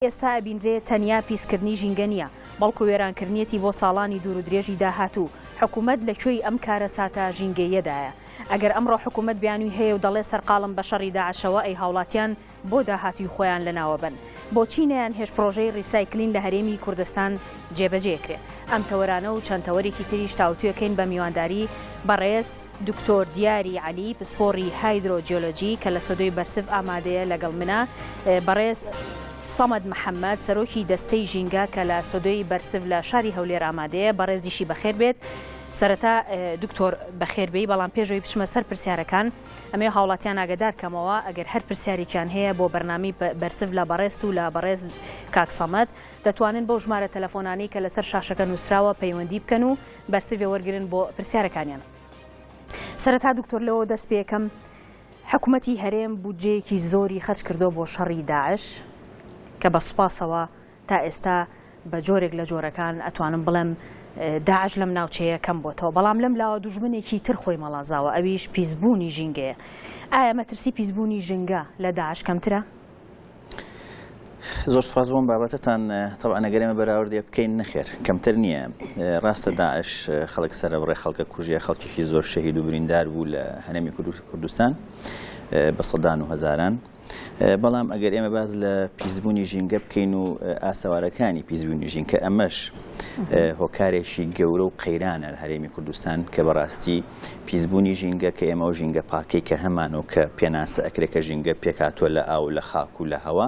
ئێستا ئەبینرێ تەنیا پیسکردنی ژینگە نییە، بەڵکو وێرانکردنیەتی بۆ ساڵانی دوور و درێژی داهاتوو، حکومەت لە کوێی ئەم کارەساتە ژینگەییەدایە؟ ئەگەر ئەمڕۆ حکومەت بیانووی هەیە و دەڵێ سەرقاڵم بە شەڕی داعشەوە ئەی هاوڵاتیان بۆ داهاتووی خۆیان لەناوەبەن؟ بۆچی نەیانهێشت پڕۆژەی ڕیسایکلین لە هەرێمی کوردستان جێبەجێکرێ؟ ئەم تەوەرانە و چەند تەوەرێکی تریش تاوتوێکەین بە میوانداری بەڕێز دکتۆر دیاری عەلی پسپۆڕی هایدرۆ جیۆلۆجی کە لە سۆدۆی بەرسڤ ئامادەیە لەگەڵ منە بەڕێز سەمەد محەممەد سەرۆکی دەستەی ژینگە کە لە سۆدۆی بەرسڤ لە شاری هەولێر ئامادەیە بەڕێزیشی بەخێر بێت سەرەتا دکتۆر بەخێربێی بەڵام پێشەوەی بچمە سەر پرسیارەکان ئەمێ هاوڵاتیان ئاگدار کەمەوە ئەگەر هەر پرسیارێکیان هەیە بۆ بەرنامی بەرسف لە بەڕێست و لە بەڕێز کاکسەمەت دەتوانن بۆ ژمارە تەلەفۆنانی کە لەسەر شاشەکە نووسراوە پەیوەندی بکەن و بەرسڤ وەرگرن بۆ پرسیارەکانیان سەرەتا دکتۆر لەوە دەست پێکەم حکوومەتی هەرێم بودجەیەکی زۆری خەرج کردو بۆ شەڕی داعش کە بە سوپاسەوە تا ئێستا بە جۆرێک لە جۆرەکان ئەتوانم بڵێم داعش لەم ناوچەیە کەم بۆتەوە بەڵام لەم لاوە دوژمنێکی تر خۆی مەڵازاوە ئەویش پیسبوونی ژینگەیە ئایا مەترسی پیسبوونی ژنگە لە داعش کەمترە؟ زۆر سپاس بۆم بابەتتان تەوان نەگەرێمە بەراوردێ بکەین نەخێر کەمتر نییە ڕاستە داعش خەڵک سەرە بڕێ خەڵکە کوژیە خەڵکیی زۆر شەهید و بریندار بوو لە هەنەمی کوردستان بە سەدان و هەزاران. بەڵام ئەگەر ئێمە باز لە پیسبوونی ژینگە بکەین و ئاسەوارەکانی پیسبوونی ژین کە ئەمەش هۆکارێکی گەورە و قەیرانە لە هەرێمی کوردستان کە بەڕاستی پیسبوونی ژینگە کە ئێمە ئەو ژینگە پاکەی کە هەمان و کە پێناسە ئەکرێ کە ژینگە پێکهاتووە لە ئاو لە خاک و لە هەوا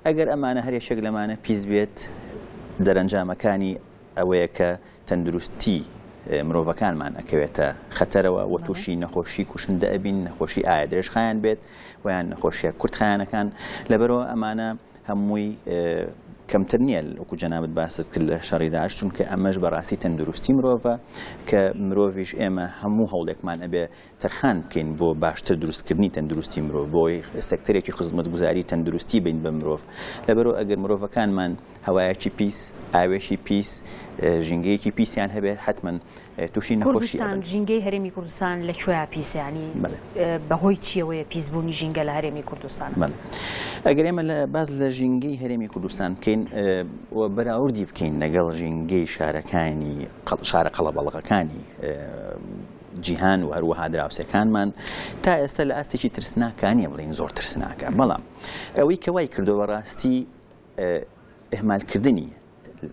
ئەگەر ئەمانە هەر یەکێک لەمانە پیس بێت دەرەنجامەکانی ئەوەیە کە تەندروستی مرۆڤەکانمان ئەکەوێتە خەتەرەوە و تووشی نەخۆشی کوشندە ئەبین نەخۆشی ئایا درێژخایان بێت ویان نەخۆشیە کورتخایانەکان لەبەرەوە ئەمانە هەمووی کەمتر نییە وەکو جەنابت باست کرد لە شەڕی داعش چونکە ئەمەش بەڕاستی تەندروستی مرۆڤە کە مرۆڤش ئێمە هەموو هەوڵێکمان ئەبێ تەرخان بکەین بۆ باشتر دروستکردنی تەندروستی مرۆڤ بۆی سەکتەرێکی خزمەتگوزاری تەندروستی بین بە مرۆڤ لەبەرو ئەگەر مرۆڤەکانمان هەوایەکی پیس ئاوێکی پیس ژینگەیەکی پیسیان هەبێت حتمما تووشی نەخۆشی کوردستان ژینگەی هەرێمی کوردستان لە کوێیا پیسیانی بەڵێ. بەهۆی چیەوەیە پیسبوونی ژینگە لە هەرێمی کوردستان بەڵێ. ئەگەر ئێمە لە باز لە ژینگەی هەرێمی کوردستان بکەین ئێ، و بەراوردی بکەین لەگەڵ ژینگەی شارەکانی قەڵ- شارە قەڵەبەڵەکەکانی ئێ، جیهان و هەروەها دراوسێکانمان تا ئێستا لە ئاستێکی ترسناکانە بڵێین زۆر ترسناکە بەڵام ئەوەی کە وای کردووە بەڕاستی ئهمالکردنی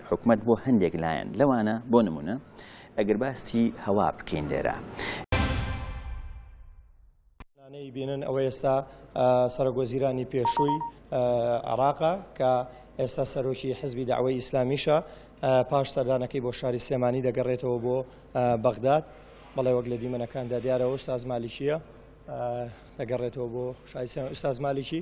حکومەت بۆ هەندێک لایەن لەوانە بۆ نمونە ئەگەر باسی هەوا بکەین لێرە. ئەی بینن ئەوە ئێستا سەرۆکوەزیرانی پێشووی عراقە کە ئێستا سەرۆکی حزبی داوای ئیسلامیشە پاش سەردانەکەی بۆ شاری سلێمانی دەگەڕێتەوە بۆ بەغداد بەڵێ وەک لە دیمەنەکاندا دیارەوە ئوستاز مالیکیە دەگەڕێتەوە بۆ شای ئوستاز مالیکی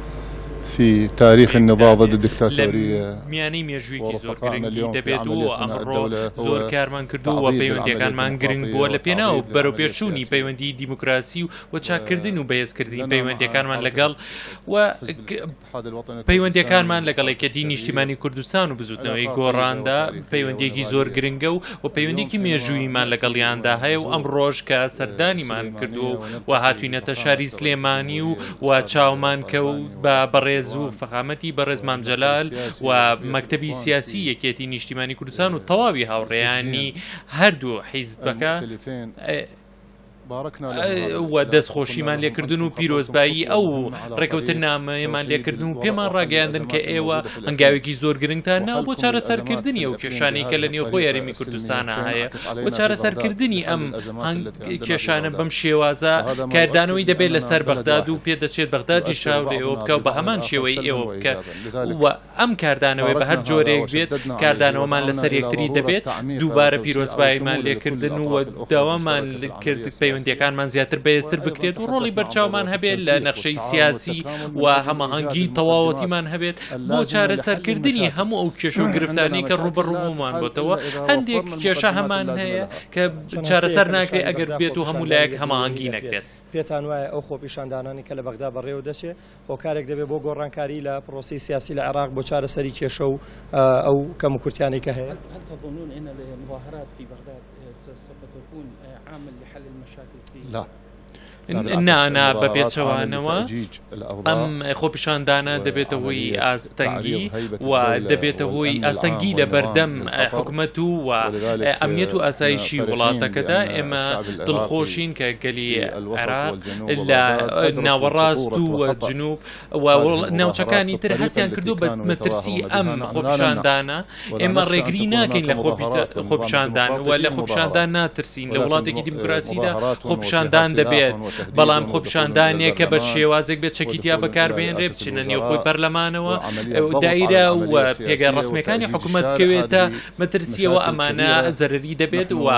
فی تاریخ النضاضە دیکتاتۆریە میانی مێژوویکی زۆر گرنگی دەبێت و ئەمڕۆ زۆر کارمان کردو و پەیوەندەکانمان گرنگ بووە لە پێناو بەرەو پێشچوونی پەیوەندی دیموکراسی و و چاککردن و بەهێزکردنی پەیوەندەکانمان لەگەڵ و پەیوەندەکانمان لەگەڵ یەکێتی نیشتیمانی کوردستان و بزوتنەوەی گۆڕاندا پەیوەندێکی زۆر گرنگە و و پەیوەندێکی مێژوویمان لەگەڵیاندا هەیە و ئەم ڕۆژ کە سەردانیمان کردو و هاتوینەتە شاری سلێمانی و و چاومان کەوت بە بەڕێز و فەقامەتی بەڕێز مام جەلال و مەکتەبی سیاسی یەکێتی نیشتیمانی کوردستان و تەواوی هاوڕێیانی هەردوو حیزبەکە و دەستخۆشیمان لێکردن و پیرۆزبایی ئەو ڕێکەوتن نامەیەمان لێکردن و پێمان ڕاگەیاندن کە ئێوە هەنگاوێکی زۆر گرنگتان ناو بۆ چارەسەرکردنی ئەو کێشانی کە لە نێوخۆ یاریمی کوردستانە هەیە بۆ چارەسەرکردنی ئەم کێشانە بەم شێوازە کاردانەوەی دەبێت لەسەر بەغداد و پێ دەچێت بەغداد جیشاو لە ئێوە بکە و بە هەمان شێوەی ئێوە بکە و ئەم کاردانەوەی بە هەر جۆرێک بێت کاردانەوەمان لەسەر یەکتری دەبێت دووبارە پیرۆزباییمان لێکردن و داوامان کرد پەیوەندەکانمان زیاتر بەێزتر بکرێت و ڕۆڵی بەرچاومان هەبێت لە نەخشەی سیاسی و هەماهەنگی تەواوەتیمان هەبێت بۆ چارەسەرکردنی هەموو ئەو کێشە و گرفتانی کە ڕوبەڕوومان بۆتەوە هەندێک کێشە هەمان هەیە کە چارەسەر ناکرێت ئەگەر بێت و هەموو لایەک هەماهنگگی نەکرێت پێتان وایە ئەو خۆپیشاندانانی کە لە بەغدا بەڕێوە دەچێت هۆکارێک دەبێت بۆ گۆڕانکاری لە پرۆسی سیاسی لە عێراق بۆ چارەسەری کێشە و ئەو کەم و کورتیانی کە هەیە لا نانا بە پێچەوانەوە ئەم خۆپیشاندانە دەبێتە هۆی ئاستەنگی و دەبێتە هۆی ئاستەنگی لە بەردەم حکومەت و و ئەمنیەت و ئاسایشی وڵاتەکەدا ئێمە دڵخۆشین کە گەلی عێراق لە ناوەڕاست و جنوب ناوچەکانی تر هەستیان کردو بە مەترسی ئەم خۆپشاندانە ئێمە ڕێگری ناکەین لە خۆپشاندان وە لە خۆپشاندان ناترسین لە وڵاتێکی دیموکراسیدا خۆپشاندان دەبێت بەڵام خۆپشاندانێک کە بە شێوازێک بێت چەکیتیا بەکاربێنرێ بچینە نێو خۆی پەرلەمانەوە دایرە و پێگە ڕسمەکانی حکوومەت بکەوێتە مەترسیەوە ئەمانە زەرری دەبێت وە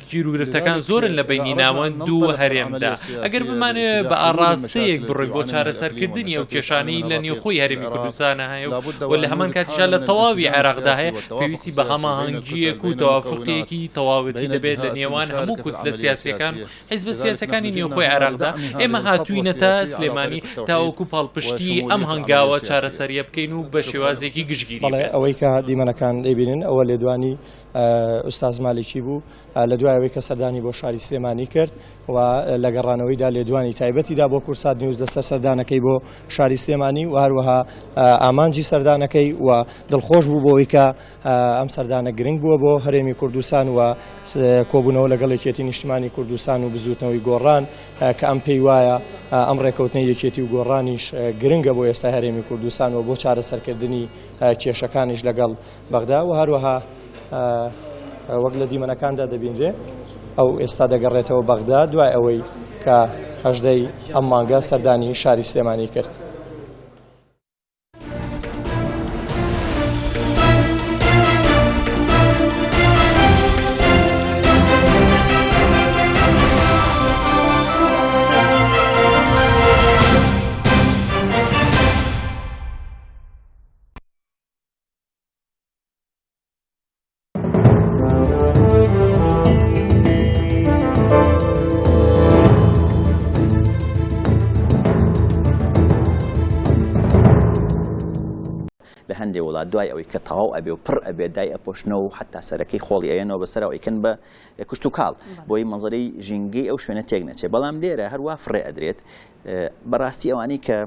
گیروگرفتەکان زۆرن لە بینی ناوەند دوو هەرێمدا ئەگەر بمانێ بە ئاڕاستەیەک بڕی بۆ چارەسەرکردنی ئەو کێشانی لە نێوخۆی هەرمی کوردستانە هەیە و لە هەمان کاتیشا لە تەواوی عێراقدا هەیە پێویستی بە هەماهەنگیەک و تەوافقێکی تەواوەتی دەبێت لە نێوان هەموو کوت لە سیاسەکان حیز بە سیاسەکانی نێوخۆی عێراقدا ئێمە هاتوینەتە سلێمانی تاوەکو پاڵپشتی ئەم هەنگاوە چارەسەریە بکەین و بە شێوازێکی گشتگیری ئەوەی کە دیمەنەکان دەبینن ئەوە لێدوانی ئوستاز مالیکی بوو لە دوای ئەوەی کە سەردانی بۆ شاری سلێمانی کرد و لە گەڕانەوەیدا لێدوانی تایبەتیدا بۆ کورسات نیوز لەسەر سەردانەکەی بۆ شاری سلێمانی و هەروەها ئامانجی سەردانەکەی و دڵخۆش بوو بۆەوەی کە ئەم سەردانە گرنگ بووە بۆ هەرێمی کوردستان و کۆبوونەوە لەگەڵ یەکێتی نیشتمانی کوردستان و بزوتنەوەی گۆڕان کە ئەم پێی وایە ئەم ڕێکەوتنی یەکێتی و گۆڕانیش گرنگە بۆ ئێستا هەرێمی کوردستان و بۆ چارەسەرکردنی کێشەکانیش لەگەڵ بەغدا و هەروەها وەک لە دیمەنەکاندا دەبینرێ ئەو ئێستا دەگەڕێتەوە بەغدا دوای ئەوەی کە هەژدەی ئەم مانگە سەردانی شاری سلێمانی کرد. لە هەندێ وڵات دوای ئەوەی کە تەواو ئەبێ و پڕ ئەبێ دای ئەپۆشنەوە و حتا سەرەکەی خۆڵی ئەەنەوە بەسەرەوە ئیکن بە کوشت و کاڵ بۆی مەزەرەی ژینگەی ئەو شوێنە تێک نەچێت بەڵام لێرە هەروە فڕێ ئەدرێت بەڕاستی ئەوانەی کە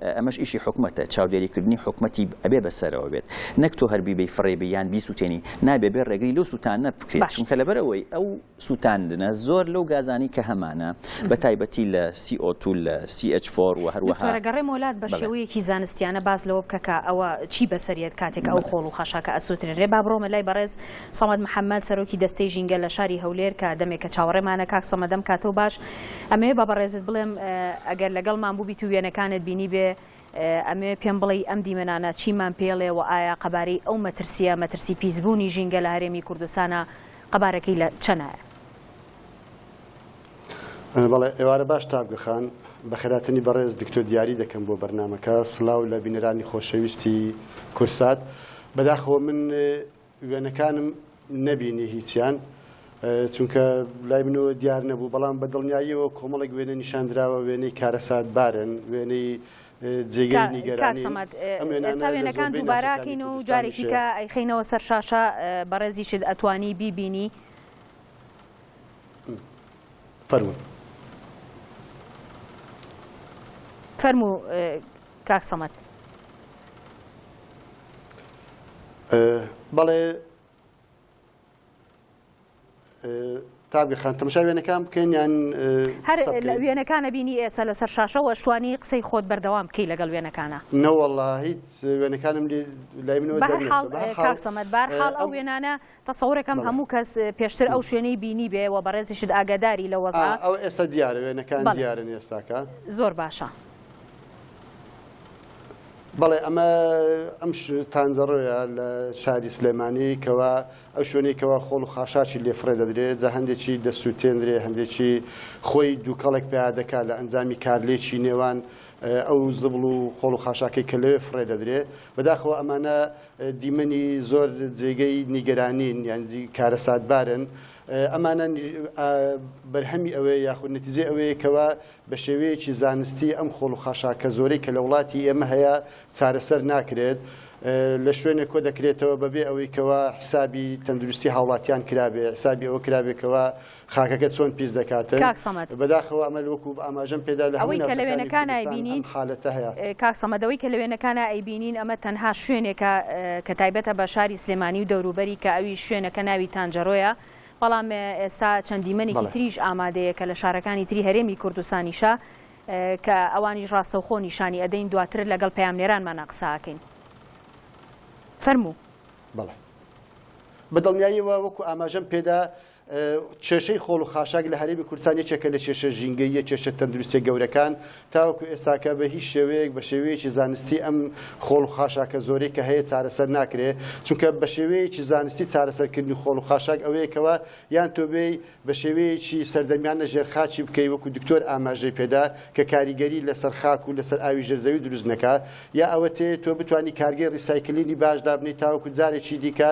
ئەمەش ئیشی حکومەتە چاودێری کردنی حکومەتی ئەبێ بەسەرەوە بێت نەک تۆ هەر بیبەی فڕێ بی یان بیسووتێنی نابێ بێ ڕێگری لەو سووتانە بکرێت باش. چونکە لەبەرەوەی ئەو سووتاندنە زۆر لەو گازانی کە هەمانە بە تایبەتی لە CO2 لە CH4 و هەروەها دکتۆرە گەڕێم وەلات بە بەڵێ. شێوەیەکی زانستیانە باس لەوە بکە کە ئەوە چی بەسەر یەت کاتێک ئەو خۆڵ و خاشاکە ئەسووترێنرێ با بڕۆمە لای بەڕێز سەمەد محەمەد سەرۆکی دەستەی ژینگە لە شاری هەولێر کە دەمێکە چاوەڕێمانە کاک سەمەد ئەم کاتەو باش ئەمەوێ بە بەڕێزت بڵێم ئەگەر لەگەڵمان بووبیت و وێنەکانت بینیبێ، ئەمەوێ پێم بڵێی ئەم دیمەنانە چیمان پێڵێ و ئایا قەبارەی ئەو مەترسییە، مەترسی پیسبوونی ژینگە لە هەرێمی کوردستانە، قەبارەکەی لە چەنایە؟ بەڵێ، ئێوارە باش تاڤگە خان. بەخێرهاتنی بەڕێز دکتۆر دیاری دەکەم بۆ بەرنامەکە. سڵاو لە بینەرانی خۆشەویستی کورسات. بەداخەوە من وێنەکانم نەبینی هیچیان چونکە لای منەوە دیار نەبوو بەڵام بە دڵنیاییەوە کۆمەڵێک وێنە نیشان دراوە وێنەی کارەسات بارن وێنەی جێگەی نیگەرانی وێنەکان دووباراکەین و جارێکیکە ئەیخینەوە سەر شاشە بەڕێزیشت ئەتوانی بیبینی فەرمو فەرمو کاک سەمەد. بەڵێ تابگە خان تەمەشا وێنەکان بکەین یان هەر وێنەکانە بینی ئێستا لەسەر شاشەوە شتوانی قسەی خۆت بەردەوام بکەی لەگەڵ وێنەکانە نەوەڵا هیچ وێنەکانم لای منەوە حاڵ سەمەت بارحاڵ ئەو وێنانە تەسەورەکەم هەموو کەس پێشتر ئەو شوێنەی بینیبێ و بەڕێزیشت ئاگاداری لەو وەزعە. ئا ئەوە ئێستا دیارە وێنەکان دیارن ئێستاکە. زۆر باشە. بەڵێ ئەمە ئەم تانجەڕۆیە لە شاری سلێمانی کەوا ئەو شوێنەی کەوا خۆڵ و خاشاکی لێ فڕێ دەدرێت جا هەندێکی دەسووتێنرێ هەندێکی خۆی دووکەڵێک پیا دەکات لە ئەنجامی کارلێکی نێوان ئەو زبڵ و خۆڵ و خاشاکەی کە لەوێ فڕێ دەدرێ بەداخەوە ئەمانە دیمەنی زۆر جێگەی نیگەرانین یانجی کارەساتبارن ئەمانە بەرهەمی ئەوەیە یاخود نەتیجێ ئەوەیە کەوا بە شێوەیەکی زانستی ئەم خۆڵ و خاشاکە زۆرەی کە لە وڵاتی ئێمە هەیە چارەسەر ناکرێت لە شوێنێک کۆ دەکرێتەوە بەبێ ئەوەی کەوا حسابی تەندروستی هاوڵاتیان کرابێ حسابی ئەوە کرابێکەوە خاکەکە چۆن پیس دەکاتن کاک سەمەد بەداخەوە ئەمە لوەکو ئاماژەم پێدا لە ئەوەی کە لە وێنەکان ئایبینین حالەتە هەیە کاک سەمەدەوەی کە لە وێنەکان ئایبینین ئەمە تەنها شوێنێکە کە تایبەتە بە شاری سلێمانی و دەوروبەری کە ئەوی شوێنەکە ناوی تانجەرۆیە بەڵام ئێستا چەند دیمەنێکی تریش ئامادەیە کە لە شارەکانی تری هەرێمی کوردستانیشە کە ئەوانیش ڕاستەوخۆ نیشانی ئەدەین دواتر لەگەڵ پامنێرانمانە قساکەین فەرموو بەڵێ بەدڵنیاییەوە وەکو ئاماژەم پێدا کێشەی خۆڵ و خاشاک لە هەرێمی کوردستان یەکێکە لە کێشە ژینگەییە کێشە تەندروستیە گەورەکان، تاوەکو ئێستاکە بە هیچ شێوەیەک بە شێوەیەکی زانستی ئەم خۆڵ و خاشاکە زۆرەی کە هەیە چارەسەر ناکرێ، چونکە بە شێوەیەکی زانستی چارەسەرکردنی خۆڵ و خاشاک ئەوەیە کەوا یان تۆ بێی بە شێوەیەکی سەردەمیانە ژێر خاکی بکەی وەکو دکتۆر ئاماژەی پێدا کە کاریگەری لەسەر خاک و لەسەر ئاوی ژێر زەوی دروست نەکا یا ئەوەتێ تۆ بتوانی کارگەی ڕیسایکلینی باش دابنێی تاوەکو جارێکی دیکە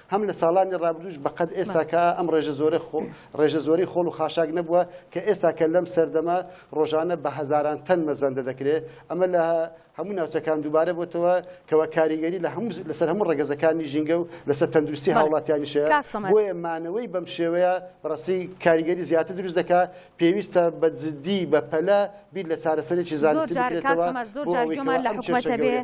هەم لە ساڵانی ڕابردووش بە قەد ئێستا کە ئەم ڕێژە زۆرە خۆ ڕێژە زۆری خۆڵ و خاشاک نەبووە کە ئێستا کە لەم سەردەمە ڕۆژانە بە هەزاران تەن مەزەندە دەکرێ ئەمە لە هەموو ناوچەکان دووبارە بۆتەوە کەوە کاریگەری لە هەموو لەسەر هەموو ڕگەزەکانی ژینگە و لەسەر تەندروستی هاوڵاتیانیشە بۆیە مانەوەی بەم شێوەیە بەڕستی کاریگەری زیاتر دروست دەکە پێویستە بە جددی بە پەلە بیر لە چارەسەرێکی زانستی بکرێتەوە بۆ ئەوەی کە ئەم کێشە گەورە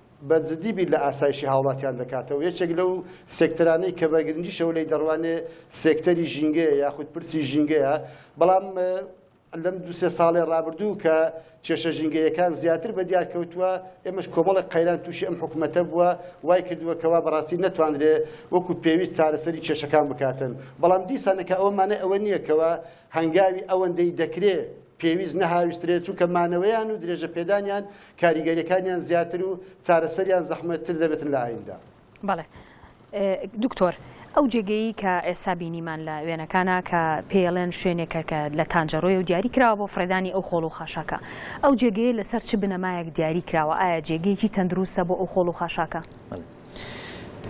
بە جدی بیر لە ئاسایشی هاوڵاتیان دەکاتەوە، یەکێک لەو سێکتەرانەی کە بە گرنگیشەوە لێی دەڕوانێ سێکتەری ژینگەیە یاخود پرسی ژینگەیە، بەڵام لەم دوو سێ ساڵەی ڕابردوو کە کێشە ژینگەیەکان زیاتر بە دیار کەوتووە، ئێمەش کۆمەڵێک قەیران تووشی ئەم حکومەتە بووە، وای کردووە کەوا بەڕاستی نەتوانرێ وەکو پێویست چارەسەری کێشەکان بکاتن، بەڵام دیسانەکە ئەوە مانای ئەوە نییە کەوا هەنگاوی ئەوەندەی دەکرێ، پێویست نەهاویشترێت، چونکە مانەوەیان و درێژە پێدانیان کاریگەریەکانیان زیاتر و چارەسەریان زەحمەت تر دەبێتن لە ئایندە. بەڵێ دکتۆر ئەو جێگەیی کە ئێستا بینیمان لە وێنەکانە کە پێڵێن شوێنێکە کە لە تانجەڕۆی و دیاری کراوە بۆ فڕێدانی ئەو خۆڵ و خاشاکە ئەو جێگەیە لەسەر چ بنەمایەک دیاری کراوە ئایا جێگەیەکی تەندروستە بۆ ئەو خۆڵ و خاشاکە؟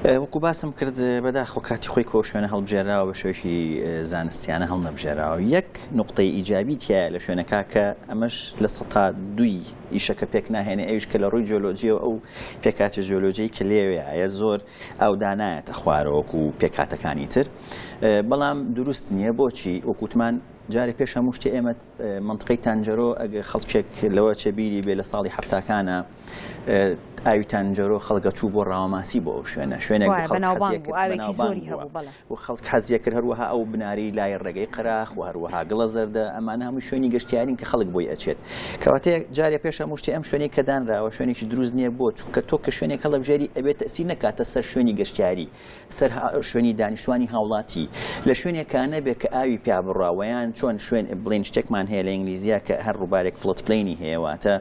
وەکو باسم کرد بەداخۆ کاتی خۆی کۆ شوێنە هەڵبژێراوە بە شوێکی زانستیانە هەڵ نەبژێراوە یەک نقطەی ئیجابی تایە لە شوێنەکە کە ئەمەش لە سە تا دوی ئیشەکە پێک ناهێنێ ئەوش کە لە ڕووی جۆلۆجیە ئەو پێکاتە جۆلۆجی کە لێوەیە زۆر ئەودانایەتە خوارەوەکو و پێکاتەکانی تر بەڵام دروست نییە بۆچی وەکووتمان جارێ پێش هەموو شتێ ئێمە مەنتقەی تانجەرۆ ئەگەر خەڵکێک لەوە چێ بیری بێ لە ساڵی حفتاکانە ئاوی تانجەرۆ خەڵگە چوو بۆ ڕاوەماسی بۆ ئەو شوێنە شوێنێک و خەڵک حەزیە کرد هەروەها ئەو بناری لای ڕێگەی قراخ و هەروەها گڵە زەردە ئەمانە هەموو شوێنی گەشتیارین کە خەڵک بۆی ئەچێت کەواتەیە جارێ پێشە مشتی ئەم شوێنی کە دانراوە شوێنێکی دروست نییە بۆ چونکە تۆ کە شوێنێک هەڵبژێری ئەبێت تەسی نکاتە سەر شوێنی گەشتیاری سەر شوێنی دانیشتوانی هاوڵاتی لە شوێنێکا نەبێ کە ئاوی پیا بڕا وەیان چۆن شوێن بڵین شتێکمان هەیە لە ئینگلیزیا کە هەر ڕووبارێک فڵت پلینی هەیە واتە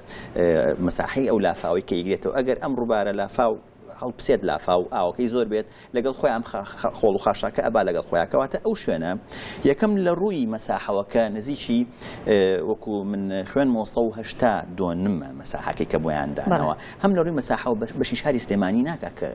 مساحەی ئەو لافاوی کە یگرێتەوە ئەگەر ئەم ڕووبارە لافاو هەڵپسێت لافا و ئاوەکەی زۆر بێت لەگەڵ خۆیان خۆڵ و خاشاکە ئەبا لەگەڵ خۆیاکەواتە ئەو شوێنە یەکەم لە ڕووی مەساحەوەکە نزیکی وەکو من خوێن مۆسە و هشتا دۆنمە مەساحەکەی کە بۆیان دانەوە هەم لە ڕووی مەساحەوە بەشی شاری سلێمانی ناکە کە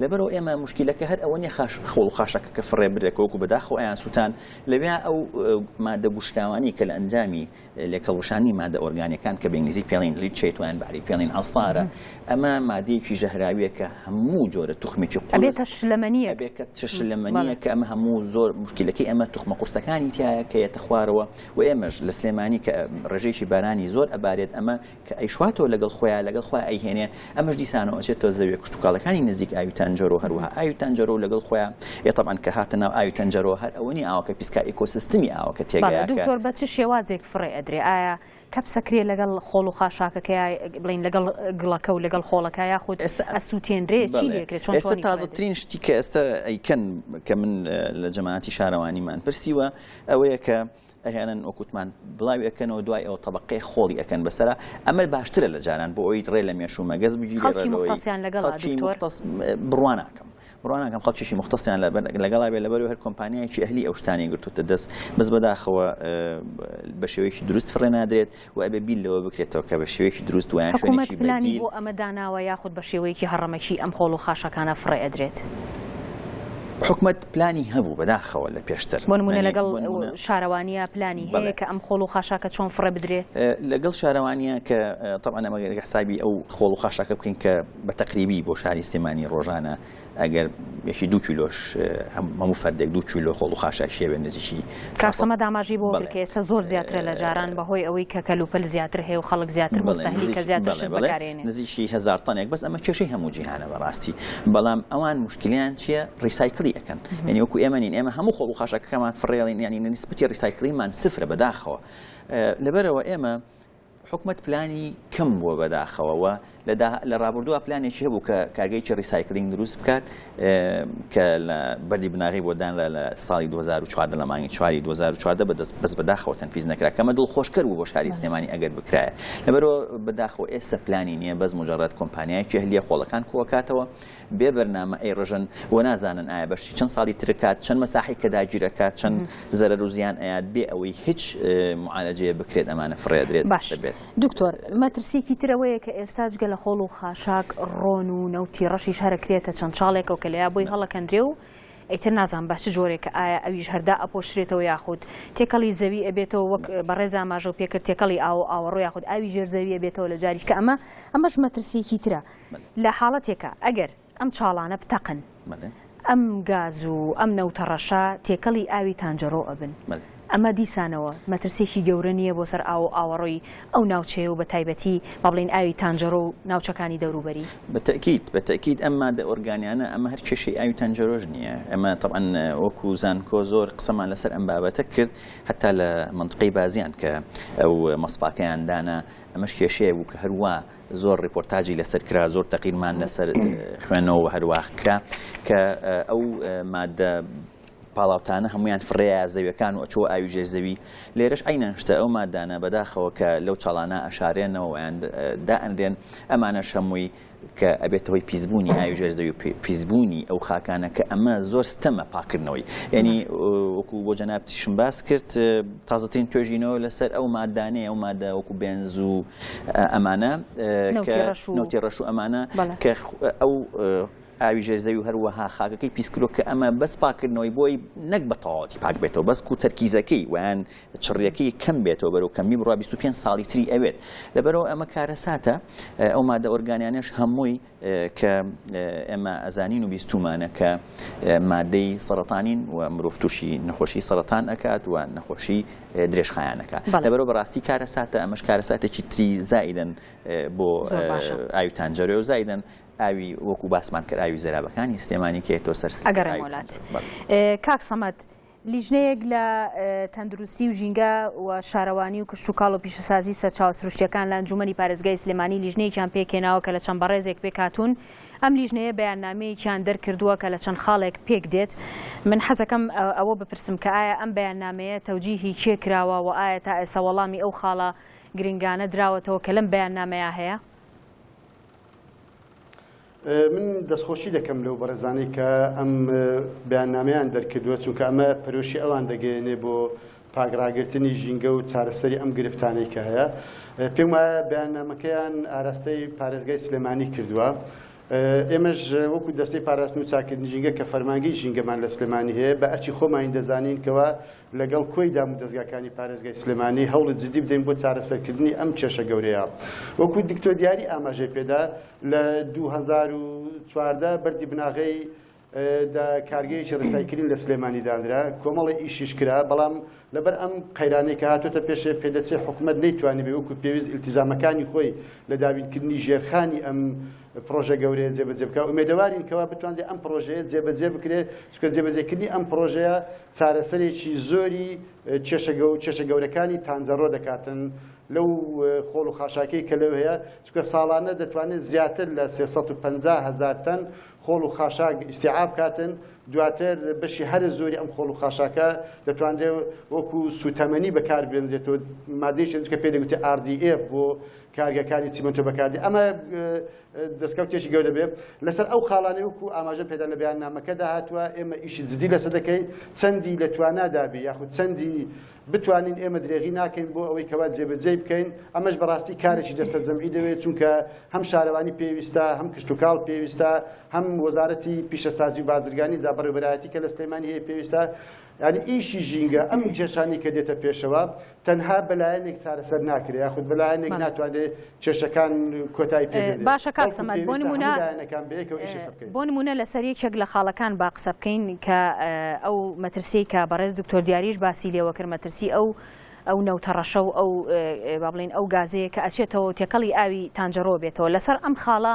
لەبەرئەوە ئێمە مشکیلەکە هەر ئەوە نیە خاش خۆڵ و خاشەکەکە فڕێ بدرێت کە وەکو بەداخەوە ئەیان سوتان لەوێ ئەو مادە گوشراوانەی کە لە ئەنجامی لێکهەڵوشانی مادە ئۆرگانیەکان کە بە ئینگلیزی پێڵین لیچەیت وایان بە عەرەبی پێڵین عەسارە ئەمە مادەیەکی ژەهراویە کە هەموو جۆرە توخمێکی قورس ئەبێتە شلەمەنییەک ئەبێت کە شلەمەنییەک کە ئەمە هەموو زۆر مشکیلەکەی ئەمە توخمە قورسەکانی تایە کە یەتە خوارەوە و ئێمەش لە سلێمانی کە ڕێژەیەکی بارانی زۆر ئەبارێت ئەمە کە ئەیشواتەوە لەگەڵ خۆیا، لەگەڵ خۆیا ئەیهێنێ، ئەمەش دیسانەوە ئەچێتە زەویە کشتوکاڵەکانی نزیک ئاوی تانجەرۆ و هەروەها ئاوی تانجەرۆ و لەگەڵ خۆیا، ئێ تەبعەن کە هاتە ناو ئاوی تانجەرۆ هەر ئەوە نیە ئاوەکە پیس کا ئیکۆسیستمی ئاوەکە تێگەیا کە. دکتۆر بە چ شێوازێک فڕێ ئەدرێ؟ ئایا کەپ سەکرێ لەگەڵ خۆڵ و خاشاکەکەیا بڵێن لەگەڵ گڵەکە و لەگەڵ خۆڵەکە یاخود ئەسوتێنرێ چی لێ کرێ؟ چۆن توانی. تازە ترین شتی کە ئێستا ئەیکەن کە من لە جەماعەتی شارەوانیمان پرسیوە ئەوەیە کە. ئەهێنن وەکوتمان بڵاوی ئەکەنەوە دوای ئەوە تەبەقەی خۆڵی ئەکەن بەسەرا ئەمە باشترە لە جاران بۆ ئەوی ڕێ لە مێش و مەگەز بگیری ڕێ بڕواناکەم ڕواناکەم خەڵکیشی مختسیان لە لەگەڵا بێ لەبەر هەر کۆمپانیایکی ئەهلی ئەو شتانی گرتوتە دەست بەس بەداخەوە بە شێوەیەکی دروست فڕێ نادرێت و ئەبێ بیر لەوە بکرێتەوە کە بە شێوەیەکی دروست و یان حکومەت شوێنێکی پلانی بەدیل بۆ ئەمە داناوە یاخود بە شێوەیەکی هەڕەمەکی ئەم خۆڵ و خاشاکانە فڕێ ئەدرێت؟ حکومەت پلانی هەبوو بەداخەوە لە پێشتر بۆ نموونە یانی لەگەڵ بۆ نموونە شارەوانیە پلانی بەڵێ. هەیە کە ئەم خۆڵ و خاشاکە چۆن فڕێ بدرێ؟ لەگەڵ شارەوانیان کە تەبعەن ئەمەگەر حسابی ئەو خۆڵ و خاشاکە بکەین کە بە تەقریبی بۆ شاری سلێمانی ڕۆژانە ئەگەر یەکی دوو کیلۆش هەموو فەردێک دوو کیلۆ خۆڵ و خاشاک شێوێ نزیکی کاک سەمەد ئاماژەی بۆ کرد کە ئێستا زۆر زیاترە لە جاران بەهۆی ئەوەی کە کەلوپەل زیاتر هەیە و خەڵک زیاتر مستهلک کە زیاتر شت بەکارێنێ نزیکی هەزار تەنێک بەس ئەمە کێشەی هەموو جیهانە بەڕاستی بەڵام ئەوان مشکلیان چییە ڕیسایکلی ئەەکەن یعنی وەکو ئێمە نین ئێمە هەموو خۆڵ و خاشەکەمان فڕێڵین یعنی نسبەتی ڕیسایکلیمان سفرە بەداخەوە لەبەرەوە ئێمە حکومەت پلانی کەم بووە بەداخەوە و لە ڕابردووە پلانێکی هەبوو کە کارگەیەکی ڕیسایکلینگ دروست بکات کە لە بەری بناغی بۆ دانرا لە ساڵی 2014 لە مانگی چواری 2014 بەدەست بەس بەداخەوە تەنفیز نەکرا کەمە دڵ خۆشکەر بوو بۆ شاری سلێمانی ئەگەر بکرایە لەبەرەوە بەداخەوە ئێستا پلانی نییە بەس مجرڕات کۆمپانیایکی هەلیە خۆڵەکان کوەکاتەوە بێ بەرنامە ئەیڕژن و نازانن ئایا بەشی چەند ساڵی ترکات چەند مەساحی کە داگیرەکات چەند زەرەر و زیان ئەیات بێ ئەوەی هیچ معالەجەیە بکرێت ئەمانە فڕێدرێت باش بێت دکتۆر مەترسیکی ترەوەیە کە ئێستاش گە لە خۆڵ و خاشاک ڕۆن و نەوتی ڕەشیش هەرەکرێتە چەند چاڵێکەوە کە لەیا بۆی هەڵەکەندرێ و ئەیتر نازان بە چ جۆرێک ئایا ئەویش هەردا ئەپۆشرێتەوە یاخود تێکەڵی زەوی ئەبێتەوە وەک بەڕێزا ماژە و پێکرد تێکەڵی ئاو ئاوەڕۆ یاخود ئاوی ژێر زەویە بێتەوە لە جاریش کە ئەمە ئەمەش مەترسیەکی ترە لە حاڵەتێکا ئەگەر ئەم چاڵانە بتەقن ئەم گاز و ئەم نەوتە ڕەشە تێکەڵی ئاوی تانجەڕۆ ئەبن ئەمە دیسانەوە مەترسێکی گەورە نییە بۆ سەر ئاو و ئاوەڕۆی ئەو ناوچەیە و بە تایبەتی با بڵێین ئاوی تانجەرۆ و ناوچەکانی دەوروبەری؟ بە تەئکید بە تەئکید ئەم مادە ئۆرگانیانە ئەمە هەر کێشەی ئاوی تانجەرۆش نییە ئەمە تەبعەن وەکوو زانکۆ زۆر قسەمان لەسەر ئەم بابەتە کرد هەتا لە مەنتقەی بازیان کە ئەو مەسفاکەیان دانا ئەمەش کێشەیەک بوو کە هەر وا زۆر ڕیپۆرتاجی لەسەر کرا زۆر تەقینمان لەسەر خوێنەوە و هەرواخ کرا کە ئەو مادە پاڵاوتانە هەمویان فڕێە زەویەکان و ئەچوە ئاوی ژێر زەوی لێرەش عینەن شتە ئەو مادانە بەداخەوە کە لەو چاڵانە ئەشارێنەوەیان دا ئەنرێن ئەمانە شەمووی کە ئەبێت هۆی پیسبوونی ئاوی ژێر زەوی پیسبوونی ئەو خاکانە کە ئەمە زۆر ستەمە پاکردنەوەی یعنی وەکو بۆ جەنابتیشم باس کرد تازەترین توێژینەوە لەسەر ئەو مادانەیە ئەو مادە وەکو بێنز و ئەمانە نەوتی ڕەش و ئەمانە کە ئەو ئاوی ژێرزەوی و هەروەها خاکەکەی پیسکرۆ کە ئەمە بەس پاکردنەوەی بۆی نەک بە تەواتی پاک بێتەوە بەس و تەرکیزەکەی ویان چڕیەکەی کەم بێتەوە بەرەو کەمی بڕ 25 ساڵی تری ئەوێت لەبەرەوە ئەمە کارەساتە ئەو مادە ئۆرگانیانش هەمووی کە ئێمە ئەزانین و بیستومانە کە مادەی سەرەتانین و مرۆڤ تووشی نەخۆشی سەرەتان ئەکات و نەخۆشی درێژخایانەکە لەبەرەوە بەڕاستی کارە ساتە ئەمەش کارە ساتێکی تری زایدن بۆ ئاویتان جەرێ و زایدن ئاوی وەکو باسمان کرد ئاوی زەرابەکانی سلێمانی کێتۆ سەر ئەگەڕێ وڵات کاک سەمەد لیژنەیەک لە تەندروستی و ژینگە و شارەوانی و کشتوکاڵ و پیشەسازی سەرچاوە سروشتیەکان لە ئەنجومەنی پارێزگای سلێمانی لیژنەیەکیان پێکهێناوە کە لە چەند بەڕێزێک پێکهاتوون ئەم لیژنەیە بەیاننامەیەکیان دەرکردووە کە لە چەند خاڵێک پێک دێت من حەزەکەم ئەوە بپرسم کە ئایا ئەم بەیاننامەیە تەوجیهی کێ کراوە و ئایا تا ئێستا وەڵامی ئەو خاڵە گرنگانە دراوەتەوە کە لەم بەیاننامەیە هەیە؟ من دەستخۆشی دەکەم لەو بەڕێزانەی کە ئەم بەیاننامەیان دەرکردووە چونکە ئەمە پەرۆشی ئەوان دەگەێنێ بۆ پاگڕاگرتنی ژینگە و چارەسەری ئەم گرفتانەی کە هەیە پێم وایە بەیاننامەکەیان ئاراستەی پارێزگای سلێمانی کردووە. ئێمەش وەکو دەستەی پاراستن و چاکردن ژینگە کە فەرمانگەی ژینگەمان لە سلێمانی هەیە بە ئەرچی خۆمانی دەزانین کەەوە لەگەڵ کۆی دامودەزگاکانی پارێزگای سلێمانی هەوڵی جدی بدەین بۆ چارەسەرکردنی ئەم کێشە گەورەیە. وەکو دکتۆر دیاری ئاماژەی پێدا لە دوو هەزار و چواردە بەردی بناغەی دا کارگەیەکی ڕیسایکلین لە سلێمانی دانرا، کۆمەڵی ئیشیش کرا، بەڵام لەبەر ئەم قەیرانەی کە هاتۆتە پێشێ پێدەچێ حکومەت نەیتوانیبێ وەکو پێویست ئیلتیزامەکانی خۆی لە دابینکردنی ژێرخانی ئەم پڕۆژە گەورەیە جێبەجێ بکات ئومێدەوارین کەوا بتوانێت ئەم پڕۆژەیە جێبەجێ بکرێت چکە جێبەجێکردنی ئەم پڕۆژەیە چارەسەرێکی زۆری کێشەگە و کێشە گەورەکانی تانجەڕۆ دەکاتن لەو خۆڵ و خاشاکەی کە لەو هەیە چکە ساڵانە دەتوانێت زیاتر لە 350 هزار تەن خۆڵ و خاشاک ئیسیعاب کاتن دواتر بەشی هەرە زۆری ئەم خۆڵ و خاشاکە دەتوانرێت وەکو سوتەمەنی بەکار بێنرێتەوە مادەیشن چکە پێ دەگوتێ RDF بۆ کارگەکانی چیمەنتۆ بەکاردێ ئەمە دەستکەوتێکی گەورە بێ لەسەر ئەو خاڵانەی وکو ئاماژە پێدا لە بەیاننامەکەدا هاتووە ئێمە ئیشی جدی لەسەر دەکەین چەندی لە توانادابی یاخود چەندی بتوانین ئێمە درێغی ناکەین بۆ ئەوەی کەوا جێبەجێ بکەین ئەمەش بەڕاستی کارێکی دەستە جەمعی دەوێت چونکە هەم شارەوانی پێویستە هەم کشتتوکاڵ پێویستە هەم وەزارەتی پیشەسازی و بازرگانی جابڕێبەرایەتی کە لە سلێمانی هەیە پێویستە ینی ئیشی ژینگە ئەم کێشانی کە دێتە پێشەوە تەنها بە لایەنێک چارەسەر ناکرێ یاخود بە لایەنێک ناتوانێ کێشەکان کۆتایی پێ بێنێ باشە کاک سەمەد بۆ نمونە بۆ نمونە لەسەر یەکێک لە خاڵەکان با قسە بکەین کە ئەو مەترسیی کە بەڕێز دکتۆر دیاریش باسی لێوە کرد مەترسی ئەو ئەو نەوتەڕەشە و ئەو با بڵین ئەو گازەیە کە ئەچێتەوە تێکەڵی ئاوی تانجەڕۆ بێتەوە لەسەر ئەم خاڵە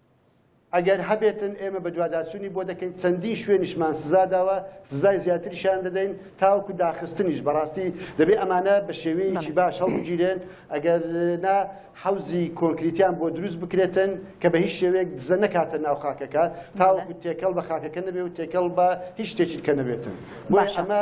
ئەگەر هەبێتن ئێمە بەدواداچوونی بۆ دەکەین چەندین شوێنیشمان سزا داوە سزای زیاتریشیان دەدەین تاوەکو داخستنیش بەڕاستی دەبێت ئەمانە بە شێوەیەکی باش هەڵبگیرێن ئەگەر نا حەوزی کۆنکریتیان بۆ دروست بکرێتن کە بە هیچ شێوەیەک دزە نەکاتە ناو خاکەکە تاوەکو تێکەڵ بە خاکەکە نەبێ و تێکەڵ بە هیچ شتێکی کە نەبێتن بۆش ئەمە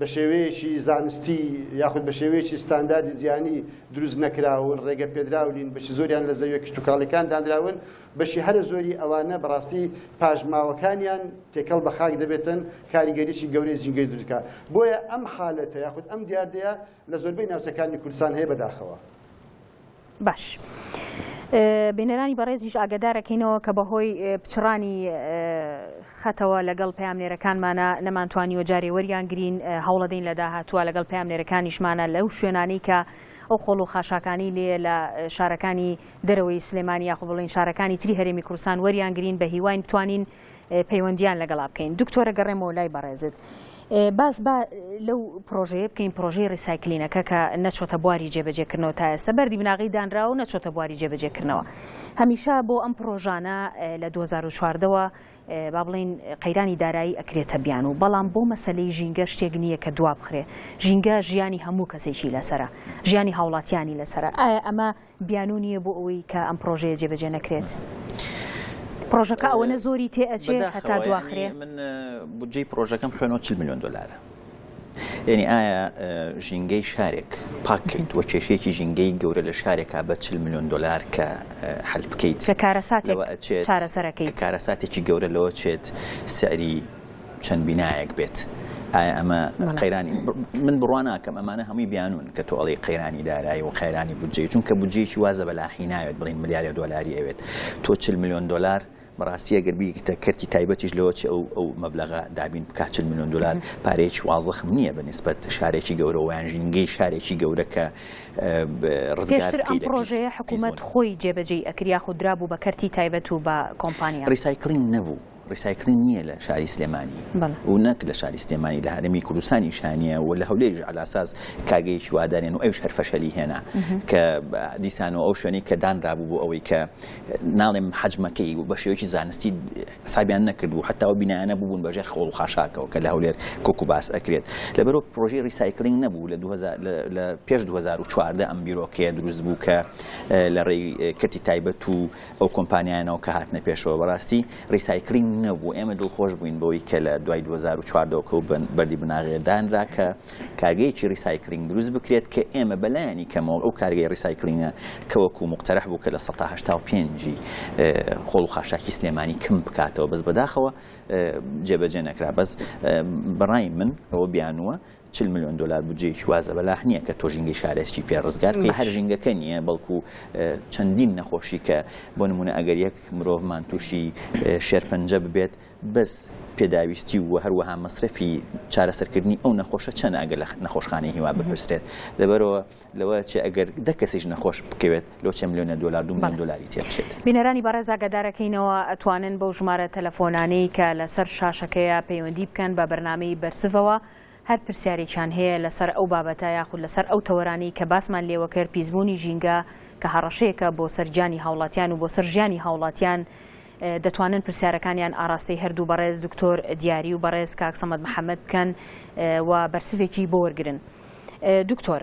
بە شێوەیەکی زانستی یاخود بە شێوەیەکی ستانداردی جیهانی دروست نەکراون، ڕێگە پێدراو نین، بەشی زۆریان لە زەویە کشتوکاڵیەکان دانراون، بەشی هەرە زۆری ئەوانە بەڕاستی پاشماوەکانیان تێکەڵ بە خاک دەبێتن، کاریگەریی گەورەی زینگەی دروست دەکات. بۆیە ئەم حالەتە یاخود ئەم دیاردەیە لە زۆربەی ناوچەکانی کوردستان هەیە بەداخەوە. باش بینەرانی بەڕێزیش ئاگدارەکەینەوە کە بەهۆی پچڕانی خەتەوە لەگەڵ پامنێرەکانمانە نەمانتوانی و جارێ وەریان گرین هەوڵەدەین لە داهاتووە لەگەڵ پامنێرەکانیشمانە لەو شوێنانی کە ئەو خۆڵ و خاشاکانی لێ لە شارەکانی دەرەوەی سلێمانی یاخۆ بڵین شارەکانی تری هەرێمی کوردستان وەریان گرین بە هیواین بتوانین پەیوەندیان لەگەڵا بکەین دکتۆرە گەڕێمەوە لای بەڕێزت باس با لەو پرۆژەیە بکەین پرۆژەی ڕیسایکلینەکە کە نەچۆتە بواری جێبەجێکردنەوە تا ئێستا بەردی بناغی دانرا و نەچۆتە بواری جێبەجێکردنەوە هەمیشە بۆ ئەم پرۆژانە لە 2014ەوە با بڵین قەیرانی دارایی ئەکرێتە بیان و بەڵام بۆ مەسلەی ژینگە شتێک نییە کە دوابخرێ ژینگە ژیانی هەموو کەسێکی لەسرە ژیانی هاوڵاتیانی لەسرە ئایا ئەمە بیانوو نییە بۆ ئەوەی کە ئەم پڕۆژەیە جێبەجێ نەکرێت؟ پڕۆژەکە ئەوەنە زۆری تێ ئەچێ هەتا دواخرێ؟ من بودجەی پڕۆژەکەم خوێنەوە چل ملیۆن دۆلارە. یعنی ئایا ژینگەی شارێک پاکیت وە کێشێکی ژینگەی گەورە لە شارێکا بە چل میلیۆن دلار کە حل بکەیت کارەساتێک چارەسەرەکەی کارەساتێکی گەورە لەوە چێت سعری چەند بینایەک بێت ئایا ئەمە قەیرانی من بڕوا ناکەم ئەمانە هەمووی بیانون کە تۆ ئەڵی قەیرانی دارایی و قەیرانی بودجەی چونکە بودجەیەکی وازە بەلاحی ناوێت بڵین ملیارە دۆلاری ئەوێت تۆ چل میلیۆن دلار بەڕاستی ئەگەر بیکتە کەرتی تایبەتیش لەوە چ ئەو ئەو مەبلغا دابین بکات چل میلیۆن دلار پارێکی وازەخم نییە بە نسبەت شارێکی گەورە ویان ژینگەی شارێکی گەورە کە ڕزگەشتر ئەم پرۆژەیە حکوومەت خۆی جێبەجێی ئەکریا خودرا بوو بە کەرتی تایبەت و بە کۆمپانیا ڕیسایکلین نەبوو ڕیسایکلین نییە لە شاری سلێمانی و نەک لە شاری سلێمانی لە هەرێمی کوردستانی شانە و لە هەولێژ علاساس کاگەیەکی وادانێن و ئەوش هەرفەشەلی هێنا کە دیسان و ئەو شوێنەی کە دانرابوو بۆ ئەوەی کە ناڵێم حەجمەکەی و بە شێوەیەکی زانستی حسابیان نەکرد و حتا و بینایانە ببوون بەژێر خۆڵ خاشاکەەوە کە لە هەولێر کۆک و باس ئەکرێت لەبەرۆ پرۆژی ریسایکلینگ نەبوو لە لە پێش 2014 ئەم بیرۆکەیە دروست بوو کە لە ڕێی کەتی تایبەت و ئەو کۆمپانیایانەوە کە هاتنە پێشەوە بەڕاستی ڕیسایکلینگ نەبوو ئێمە دڵخۆش بووین بەوەی کە لە دوای 2014 ەوە کەوت بەردی بناغێ دانرا کە کارگەیەکی ڕیسایکلینگ دروست بکرێت کە ئێمە بەلایانی کەمەوە ئەو کارگەی ڕیسایکلینگە کەوەکو مخترح بوو کە لە 1970 خۆڵ و خاشاکی سلێمانی کم بکاتەوە بەس بەداخەوە جێبەجێ نەکرا بەس بەڕای من ئەوە بیانوە چل ملیۆن دۆلار بودجەیەکی وا زەبەلاح نییە کە تۆ ژینگەی شارێزکی پێ ڕزگار بکەی، هەر ژینگەکە نییە، بەڵکو چەندین نەخۆشی کە بۆ نموونە ئەگەر یەک مرۆڤمان تووشی شێرپەنجە ببێت بەس پێداویستی و هەروەها مەسرەفی چارەسەرکردنی ئەو نەخۆشە چەند ئەگەر لە نەخۆشخانەی هیوا بپرسرێت لەبەرەوە لەوە چێ ئەگەر دە کەسیش نەخۆش بکەوێت لۆ چە ملیۆنە دۆلار دوو ملیۆن دۆلاری تێ بچێت بینەرانی بەڕێز ئاگادارەکەینەوە ئەتوانن بەو ژمارە تەلەفۆنانەی کە لەسەر شاشەکەیە پەیوەندی بکەن بە بەرنامەی بەرزڤەوە هەر پرسیارێکیان هەیە لەسەر ئەو بابەتە یاخود لەسەر ئەو تەوەرانەی کە باسمان لێوەکرد، پیسبوونی ژینگە کە هەڕەشەیەکە بۆ سەر گیانی هاوڵاتیان و بۆ سەر ژیانی هاوڵاتیان، دەتوانن پرسیارەکانیان ئاراستەی هەردوو بەڕێز دکتۆر دیاری و بەڕێز کاک سەمەد محەمەد بکەن و بەرسڤێکی بۆ وەرگرن. دکتۆر.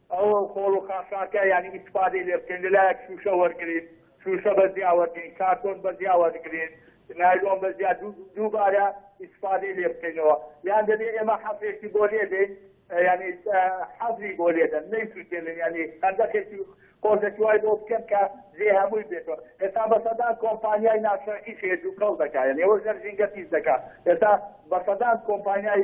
ئەو خۆڵ و خاشاکە یانی ئیستفادەی لێ بکەین لە لایەک شووشە وەرگرین شووشە بە زیا وەرگرین کارتۆن بە زیا وەرگرین نایلۆن بە زیا دووبارە ئیستفادەی لێ بکەینەوە یان دەبێت ئێمە حەفێکی بۆ لێ دەین یعنی حەزی بۆ لێدەن نەیسووتێنن ینی خەندەکێکی قۆزێکی وای بۆ بکەن کە زێ هەمووی بێتەوە ئێستا بە سەدان کۆمپانیای ناشەرعی شێت و کەڵ دەکات یعنی ئەوە ژەر ژینگە پیس دەکات ئێستا بە سەدان کۆمپانیای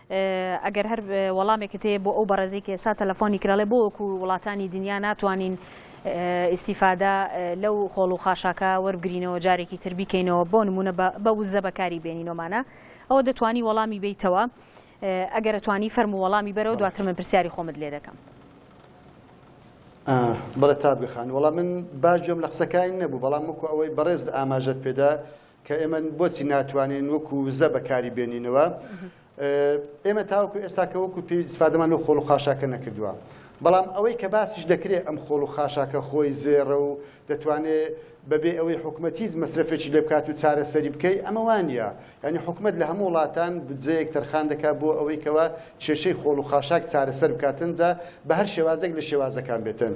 ئەگەر هەر وەڵامێکت هەیە بۆ ئەو بەڕێزەی کە ئێستا تەلەفۆنی کرد ئەڵێ بۆ وەکو وڵاتانی دنیا ناتوانین ئیستیفادە لەو خۆڵ و خاشاکە وەربگرینەوە جارێکی تر بیکەینەوە بۆ نمونە بە وزە بەکاری بێنینۆمانە ئەوە دەتوانی وەڵامی بیتەوە ئەگەر ئەتوانی فەرم و وەڵامی بەرەوە دواتر من پرسیاری خۆمت لێ دەکەم. بەڵێ تابگەخان وەڵام من باش گوێم لە قسەکانی نەبوو بەڵام وەکو ئەوەی بەڕێز ئاماژەت پێدا کە ئێمە بۆچی ناتوانین وەکو وزە بەکاری بێنینەوە ئێمە تاوەکو ئێستاکە وەکو پێ سفادەمان لەو خۆڵ و خاشاکە نەکردووە بەڵام ئەوەی کە باسیش دەکرێت ئەم خۆڵ و خاشاکە خۆی زێڕە و دەتوانێت بەبێ ئەوەی حکوومەتیز مەسرفێکی لێ بکات و چارەسەری بکەی ئەمە وانە ینی حکوومەت لە هەموو وڵاتان بجەیەک تەرخان دەکات بۆ ئەوەی کەەوە کێشەی خۆڵ و خاشاک چارەسەر بکاتنجا بە هەر شێوازێک لە شێوازەکان بێتن.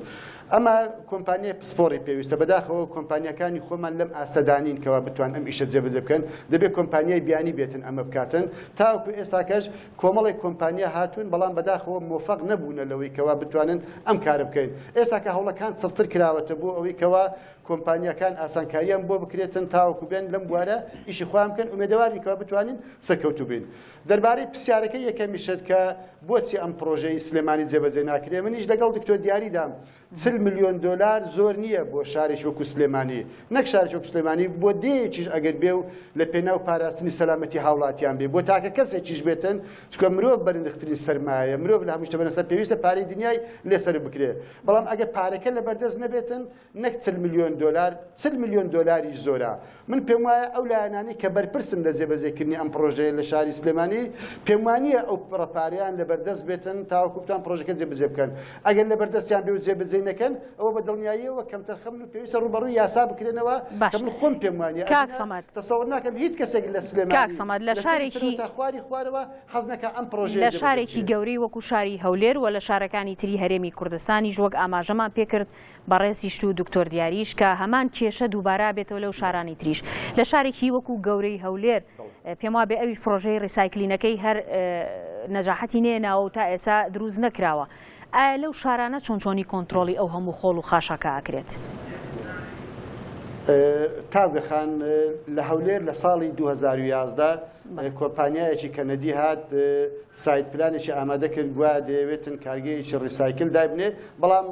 ئەمە کۆمپانیای پسپۆڕی پێویستە بەداخەوە کۆمپانیەکانی خۆمان لەم ئاستەدانین کەوا بتوان ئەم ئیشە جێبەجێ بکەن دەبێت کۆمپانیای بیانی بێتن ئەمە بکاتن تاوەکو ئێستاکەش کۆمەڵی کۆمپانیا هاتوون بەڵام بەداخەوە مۆفەق نەبوونە لەوەی کەوا بتوانن ئەم کارە بکەین ئێستاکە هەوڵەکان چڕتر کراوەتە بۆ ئەوەی کەوا کۆمپانیەکان ئاسانکاریان بۆ بکرێتن تاوەکو بێن لەم بوارە ئیشی خۆیان بکەن ئومێدەوارین کەوا بتوانین سەرکەوتوو بین دەربارەی پرسیارەکەی یەکەمیشت کە بۆچی ئەم پڕۆژەی سلێمانی جێبەجێ ناکرێ منیش لەگەڵ دکتۆر دیاریدام چل ملیۆن دۆلار زۆر نییە بۆ شارێکی وەکو سلێمانی نەک شارێکی وەکو سلێمانی بۆ دێیەکیش ئەگەر بێ و لە پێناو پاراستنی سەلامەتی هاوڵاتیان بێ بۆ تاکە کەسێکیش بێتن چونکە مرۆڤ بەرنرخترین سەرمایە مرۆڤ لە هەموو شتە بەنرختە پێویستە پارەی دنیای لێ سەرف بکرێ بەڵام ئەگەر پارەکە لەبەردەست نەبێتن نەک چل ملیۆن دۆلار، چل ملیۆن دۆلاریش زۆرە. من پێم وایە ئەو لایەنانەی کە بەرپرسن لە جێبەجێکردنی ئەم پڕۆژەیە لە شاری سلێمانی، پێم وا نییە ئەو پڕە پارەیان لەبەردەست بێتن تاوەکو بتوان پڕۆژەکە جێبەجێ بکەن. ئەگەر لەبەردەستیان بێ و جێبەجێی نەکەن، ئەوە بە دڵنیاییەوە کەمتەرخەمن و پێویستە ڕووبەڕووی یاسا بکرێنەوە کە من خۆم پێم وا نییە. ئەگینا تەسەووڕ ناکەم هیچ کەسێک لە سلێمانی، لە سەری سنوور تا خواری خوارەوە حەز نەکا ئەم پڕۆژەیە جێبەجێ بکرێت. لە شارێکی گەورەی وەکو شاری هەولێر و لە شارەکانی تری هەرێمی کوردستانیش وەک ئاماژەمان پێ کرد، بەڕێزیشت و دکتۆر دیاریش کە هەمان کێشە دووبارە بێتەوە لەو شارانی تریش لە شارێکی وەکو گەورەی هەولێر پێم وابێ ئەویش پرۆژەی ڕیسایکلینەکەی هەر نەجاحەتی نێناوە و تا ئێسا دروست نەکراوە ئایا لەو شارانە چۆن چۆنی کۆنتترۆلی ئەو هەموو خۆڵ و خاشاکە ئەکرێت. تاوگە خان لە هەولێر لە ساڵی 2011 کۆمپانیایەکی کەنەدی هات سایت پلانێکی ئامادە کرد گویا دەیەوێتن کارگەیەکی ڕیسایکل دایبنێ بەڵام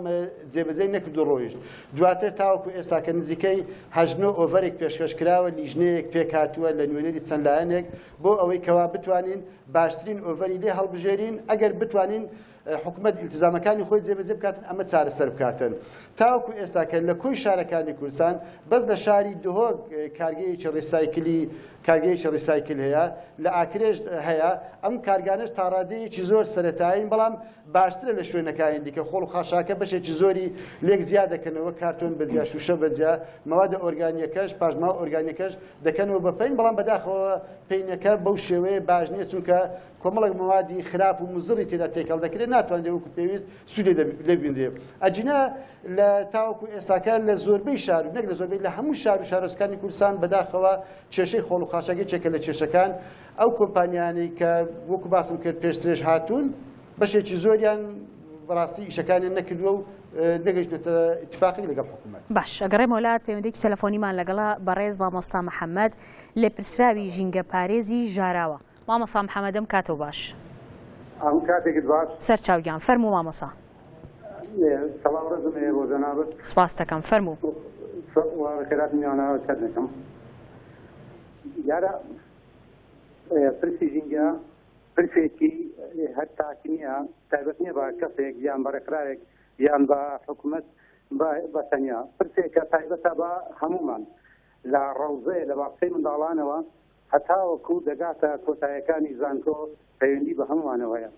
جێبەجێی نەکرد و ڕۆیشت دواتر تاوەکو ئێستا کە نزیکەی هەژنۆ ئۆڤەرێک پێشکەش کراوە لیژنەیەک پێکاتووە لە نوێنەری چەند لایەنێک بۆ ئەوەی کەوا بتوانین باشترین ئۆڤەری لێ هەڵبژێرین ئەگەر بتوانین بە حکومەت ئیلتزامەکانی خۆی جێبەجێ بکاتن ئەمە چارەسەر بکاتن تاوەکو ئێستا کە لە کۆی شارەکانی کوردستان بەس لە شاری دهۆک اه، کارگەیەکی ڕیسایکلی کارگەیەکی ڕیسایکل هەیە لە ئاکرێش هەیە ئەم کارگانش تاڕادەیەکی زۆر سەتایین بەڵام باشترە لە شوێنەکانی دیکە خۆڵ و خاشاکە بەشێکی زۆری لێک زیا دەکەنەوە کارتۆن بەجیا شوشە بەجیا مەوادە ئۆرگانیەکەش پاشماوە ئۆرگانیەکەش دەکەنەوە بە پین بەڵام بەداخەوە پینەکە بەو شێوەیە باش نییە چونکە کۆمەڵێک مەوادی خراپ و مزڕی تێدا تێکەڵ دەکرێت ناتوانرێت وەکو پێویست سوودێ لێ ببینرێت ئەجینا لە تاوەکو ئێستاکە لە زۆربەی شار و نەک لە زۆربەی لە هەموو شار و شارۆچکانی کوردستان بەداخەوە کێشەی خۆڵ و خاشاکی چێکە لە کێشەکان ئەو کۆمپانیانەی کە وەکو باسم کرد پێشترێژ هاتوون بەشێکی زۆریان بەڕاستی ئیشەکانیان نەکردووە و نەگەشتێتە اتفاقی لەگەڵ حکوومەت باش ئەگەڕێ مۆلات پەیوەندێکی تەلەفۆنیمان لەگەڵا بەڕێز مامۆستا محەممەد لێپرسراوی ژینگە پارێزی ژاراوە. مامۆسا محمد ئەم کاتەو باش. ئەم کاتێکت باش. سەر چاو گیان فەرموو مامۆسا. سڵاو ڕێزم هەیە بۆ جەنابت. سپاست دەکەم فەرموو. وە خێرات میانە سەر دەکەم. دیارە پرسی ژینگە پرسێکی هەر تاک نییە تایبەت نییە بە کەسێک یان بە ڕێکخراوێک یان بە حکوومەت بە تەنیا پرسێکە تایبەتە بە هەمومان لە ڕەوزەیە لە باقسەی منداڵانەوە هەتاوەکو دەگاتە کۆتایەکانی زانکۆ پەیوەندی بە هەموومانەوە هەیە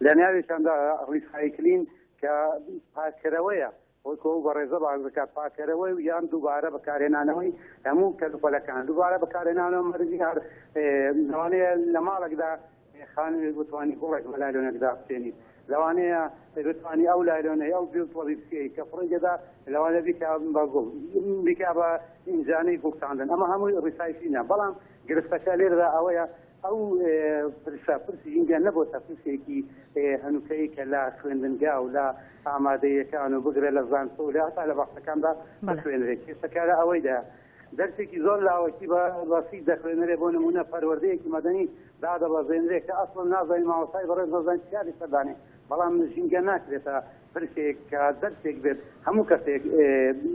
لەناویشاندا ڕیسایکلین کە پاککەرەوەیە وەکو ئەو بەڕێزە باس دەکات پاکەرەوەی و یان دووبارە بەکارهێنانەوەی هەموو کەلوپەلەکان دووبارە بەکارهێنانەوە مەرزی هەر لەوانەیە لە ماڵێکدا خانمێک بتوانی گوڵێک بە لایلۆنێک دابچێنی لەوانەیە بتوانی ئەو لایلۆنەی ئەو جل تۆڵی بچێی کە فڕی دەدا لەوانە بیکا بە گوڵ بیکا بە ئینجانەی گوڵ چاندن ئەمە هەمووی ڕیسایکلینە بەڵام گرفتەکە لێردا ئەوەیە ئەو پرسە پرسی ژینگە نەبووتە پرسێکی هەنووکەی کە لە خوێندنگا و لە ئامادەیەکان و بگرە لە زانکۆ و لە هەتا لە بەخشەکاندا بخوێنرێت کێسەکارە ئەوەیدا دەرسێکی زۆر لاوەکی بە بەسیت دەخوێنرێ بۆ نمونە پەروەردەیەکی مەدەنی دادەبەزێنرێ کە ئەسڵ نازانین ماوەسای بەڕێز نازانین چیادی سەردانێ بەڵام ژینگە ناکرێتە پرسێک کە دەرسێک بێت هەموو کەسێک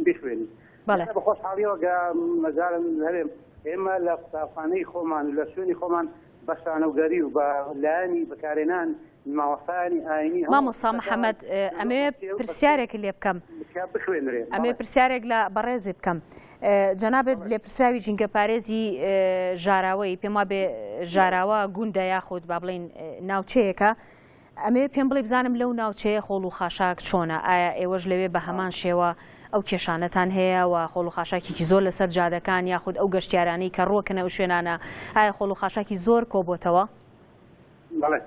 بخوێنی بە خۆشحاڵیەوە گە مەجارم هەرێم ئێمە لە قوتابخانەی خۆمان لە شوێنی خۆمان بە شانۆگەری و بە لایەنی بەکارێنان مامۆستایانی ئاینی مامۆسا محەمەد ئەمێ پرسیارێک لێ بکەم ئەمێ پرسیارێک لە بەڕێزی بکەم جەنابێت لێپرسراوی جینگە پارێزی ژاراوەی پێما بێ ژاراوە گوندە یاخود با بڵین ناوچەیەەکە ئەمەوێ پێم بڵێ بزانم لەو ناوچەیە خۆڵ و خاشاک چۆنە؟ ئایا ئێوەش لەوێ بە هەمان شێوە ئەو کێشانەتان هەیە و خۆڵ و خاشاکێکی زۆر لەسەر جادەکان یاخود ئەو گەشتیارانەی کە ڕوەکنە ئەو شوێنانە ئایا خۆڵ و خاشاکی زۆر کۆبتەوە؟ بەڵێ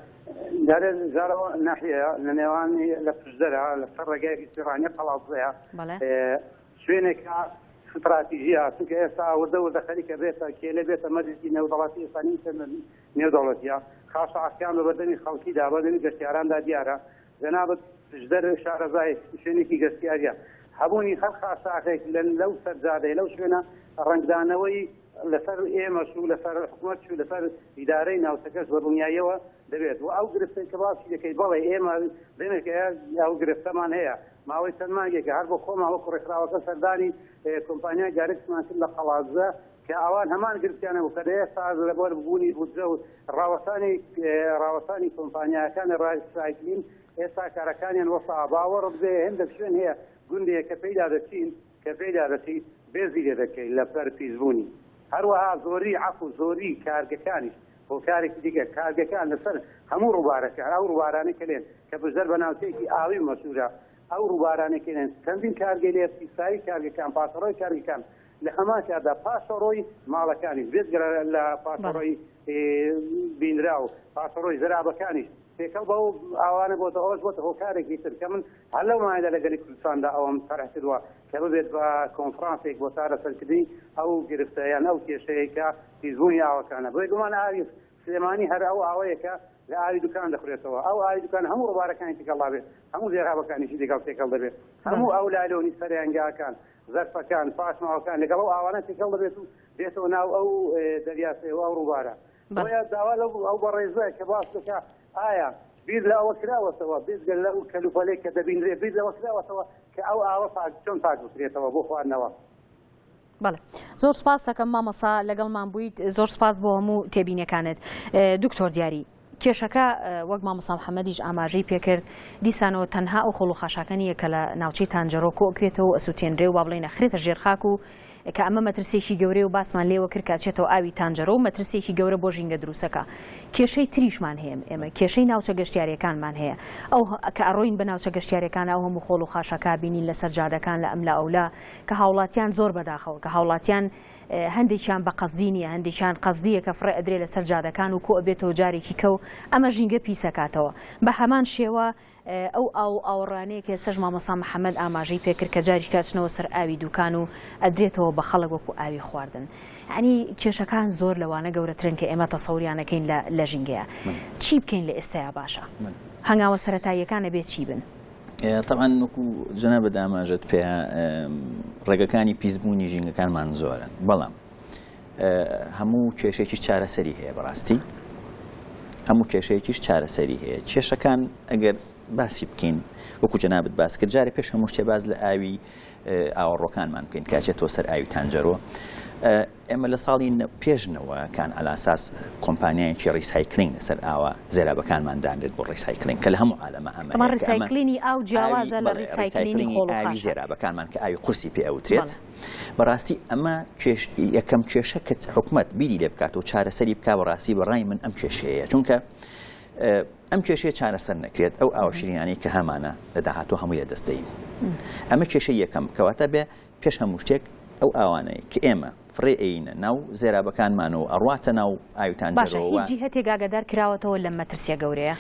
دارێ زارەوە ناحەیە لە نێوانی لە پشدەرا لەسەر ڕێگایکی سیڕانە قەڵاوزەیە شوێنێکە ستراتیژیە چونکە ئێستا ئەوەدە وەدە خەریکە بێتە کێلە بێتە مەرزی نێودەڵاتی ئێسانی نێودەوڵەتیە خاشاعەکان بە بەردەمی خەڵکیدا بەردەمی گەشتیاراندا دیارە جەنابت دژدەر شارەزای شوێنێکی گەشتیاریە هەبوونی هەر خاشاعەکێک لەو سەرجادەی لەو شوێنە ڕەنگدانەوەی لەسەر ئێمەش و لەسەر حکومەت و لەسەر ئیدارەی ناوچەکەش بە دڵنیاییەوە دەبێت و ئەو گرفتەی کە باسی دەکەی بەڵێ ئێمە دێنێک ئەو گرفتەمان هەیە ماوەی چەند مانگێکە هەر بۆ خۆمان وەکو ڕێکخراوەکە سەردانی کۆمپانیای گارکسمان کرد لە قەڵادزە کە ئەوان هەمان گرفتیانە و کە لە ئێستا ئەز لەبەر بوونی بودجە و ڕاوەسانی ڕاوەسانی کۆمپانیاکانی ڕای سایکلین ئێستا کارەکانیان وەسا باوەڕت بێ هێندە شوێن هەیە گوندێک کە پێیدا دەچین کە پێیدا دەچین بێزی لێ دەکەین لە پەر پیسبوونی هەروەها زۆری عەف و زۆری کارگەکانیش هۆکارێکی دیگە کارگەکان لەسەر هەموو ڕووبارەکە ئەو ڕووبارانە کەلێن کە بژدەر بە ناوچەیەکی ئاوی مەسوورە ئەو ڕووبارانەکەێن چەندین کارگەلێ پیسایی کارگەکان پاسەڕۆی کارگەکان لە هەمانکاتدا پاشەڕۆی ماڵەکانیش بێجگە لە پاشەڕۆی بینراو پاشەڕۆی زەرابەکانیش تێکەڵ بە ئاوانە بۆتە ئەوەش بۆتە هۆکارێکی تر کە من هەر لەو مایدا لە گەلی کوردستاندا ئەوم تەرح کردووە کە ببێت بە کۆنفرانسێک بۆ چارەسەرکردنی ئەو گرفتە یان ئەو کێشەیەکە پیسبوونی ئاوەکانە بۆی گومان ئاوی سلێمانی هەر ئەو ئاوەیەکە لە ئاوی دوکان دەخورێتەوە ئەو ئاوی دوکان هەموو ڕوارەکانی تێکەڵا بێت هەموو زێرابەکانیشی دەگەڵ تێکەڵ دەبێت هەموو ئەو لالۆنی سەریانگاکان زەرفەکان، پاشماوەکان لەگەڵ ئەو ئاوانە تێکەڵ دەبێت و دێتەوە ناو ئەو دەریاچەیەوە، ئەو ڕووبارە. بۆیە داوا لەو ئەو بەڕێزە کە باس دەکا ئایا بیر لە ئەوە کراوەتەوە بێجگە لەو کەلوپەلەی کە دەبینرێ بیر لەوە کراوەتەوە کە ئەو ئاوە پاک چۆن پاک بکرێتەوە بۆ خواردنەوە؟ بەڵێ زۆر سپاس دەکەم مامۆسا لەگەڵمان بوویت زۆر سپاس بۆ هەموو تێبینیەکانت دکتۆر دیاری. کێشەکە وەک مامۆستا محەمەدیش ئاماژەی پێکرد، دیسانەوە تەنها ئەو خۆڵ و خاشاکە نییە کە لە ناوچەی تانجەرۆ کۆکرێتەوە و ئەسوتێنرێ و با بڵێین ئەخرێتە ژێر خاک و کە ئەمە مەترسیەکی گەورەیە و باسمان لێوە کرد کە ئەچێتەوە ئاوی تانجەرۆ و مەترسیەکی گەورە بۆ ژینگە دروستەکا کێشەی تریشمان هەیە ئێمە کێشەی ناوچە گەشتیارەکانمان هەیە ئەو کە ئەڕۆین بە ناوچە گەشتیارەکان ئەو هەموو خۆڵ و خاشاکا بینین لەسەر جادەکان لە ئەملا ئەولا کە هاوڵاتیان زۆر بەداخەوە کە هاوڵاتیان هەندێکیان بە قەسدی نیە هەندێکیان قەسدیە کە فڕێ ئەدرێ لەسەر جادەکان و کۆ ئەبێتەوە جارێکی کە و ئەمە ژینگە پیس ئەکاتەوە بە هەمان شێوە ئەو ئاو و ئاوەڕانەیە کە ئێستاش مامۆستا محەمەد ئاماژەی پێکرد کە جاریک ئەچنەوە سەر ئاوی دوکان و ئەدرێتەوە بە خەڵک وەکو ئاوی خواردن یعنی کێشەکان زۆر لەوانە گەورەترن کە ئێمە تەسەوریان ئەکەین لە لە ژینگەیە چی بکەین لە ئێستایا باشە هەنگاوە سەرەتاییەکان ئەبێ چی بن؟ تەعاان وەکو جەنا بە داماژت پێ ڕێگەکانی پیسبوونی ژینگەکانمان زۆرن بەڵام هەموو کێشێکی چارەسەری هەیە بەڕاستی هەموو کێشەیەکیش چارەسەری هەیە کێشەکان ئەگەر باسی بکەین وەکو جەنابەت باس کرد جارە پێش هەموو شتێ باز لە ئاوی ئاوەڕۆکانمان بکەین کە ئەچێتەوە سەر ئاوی تانجەرۆ ئێمە لە ساڵی پێش نەوە کان ئەلاساس کۆمپانیایکی ڕیسایکلین لەسەر ئاوە زێرابەکانمان دانرێت بۆ ڕیسایکلین کە لە هەموو عالەمە ئەمە ڕیسایکلینی ئاو جیاوازە لە ڕیسایکلینی خۆڵی زێرابەکانمان کە ئاوی قورسی پێ ئەوترێت بەڕاستی ئەمە کێش یەکەم کێشە کە حکومت بیری لێ بکات و چارەسەری بک بەڕاستی بەڕای من ئەم کێشەیە چونکە ئەم کێشەیە چارەسەر نەکرێت ئەو ئاوە شیرینانەی کە هەمانە لە داهاتوو هەمووی لە دەستدەین ئەمە کێشە یەکەم کەواتە بێ پێش هەموو شتێک ئەو ئاوانەی کە ئێمە فڕێ ئەینە ناو زێرابەکانمان و ئەڕاتە ناو ئاویتان باشە هیچ جیهتێک ئاگادار کراوەتەوە لە مەترسیە گەورەیە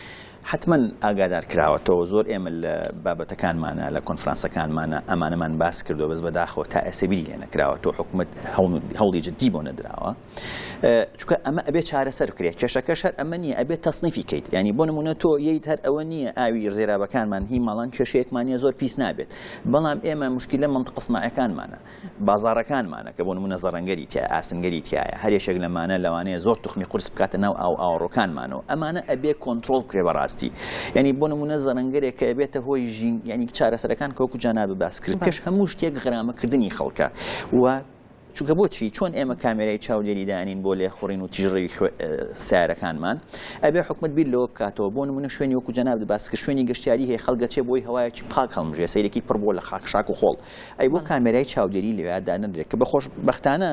حتمما ئاگادار کراوەتەوە زۆر ئێمە لە بابەتەکانمانە لە کۆنفرانسەکانمانە ئەمانەمان باس کردو بەس بەداخەوە تا ئێسە بیری لێ نەکراوە تۆ حکوومەت هەوڵی جددی بۆ نەدراوە. چکە ئەمە ئەبێ چارەسەر کرێت کێشەکەش هەر ئەمە نیە ئەبێت تەسنیفی کەیت ینی بۆ نمونە تۆ ییت هەر ئەوە نییە ئاوی زێرابەکانمان هی ماڵان کێشەیەکمانە زۆر پیس نابێت بەڵام ئێمە مشکلە منتە قسناعەکانمانە بازارەکانمانە کە بۆ نمونە زەڕەنگەری تیا ئاسنگەری تایە هەرێشێک لەمانە لەوانەیە زۆر تخمی قرس بکاتە ناو ئاو ئاوڕۆکانمانەوە ئەمانە ئەبێ کۆنتترۆل کرێ بەڕاستی ینی بۆ نمونە زەرەنگەرێک کە بێتە هۆی ژین ینی چارەسەرەکان کۆکو جانا بەباسکرد پێش هەموو شتێک غرامەکردنی خەڵکە و چونکە بۆچی چۆن ئێمە کامێرای چاودێری دانین بۆ لێخوڕین و تیژڕەوی سارەکانمان ئەبێ حکومت بیر لەوە بکاتەوە بۆ نمونە شوێنی وەکو جەناب باس کە شوێنی گەشتیاری هەیە خەڵگەچێ بۆی هەوایەکی پاک هەڵمژێ سەیرێکی پڕ بۆ لە خاک شاک و خۆڵ ئەی بۆ کامێرای چاودێری لەوێدا نەدرێت کە بەخۆش بەختانە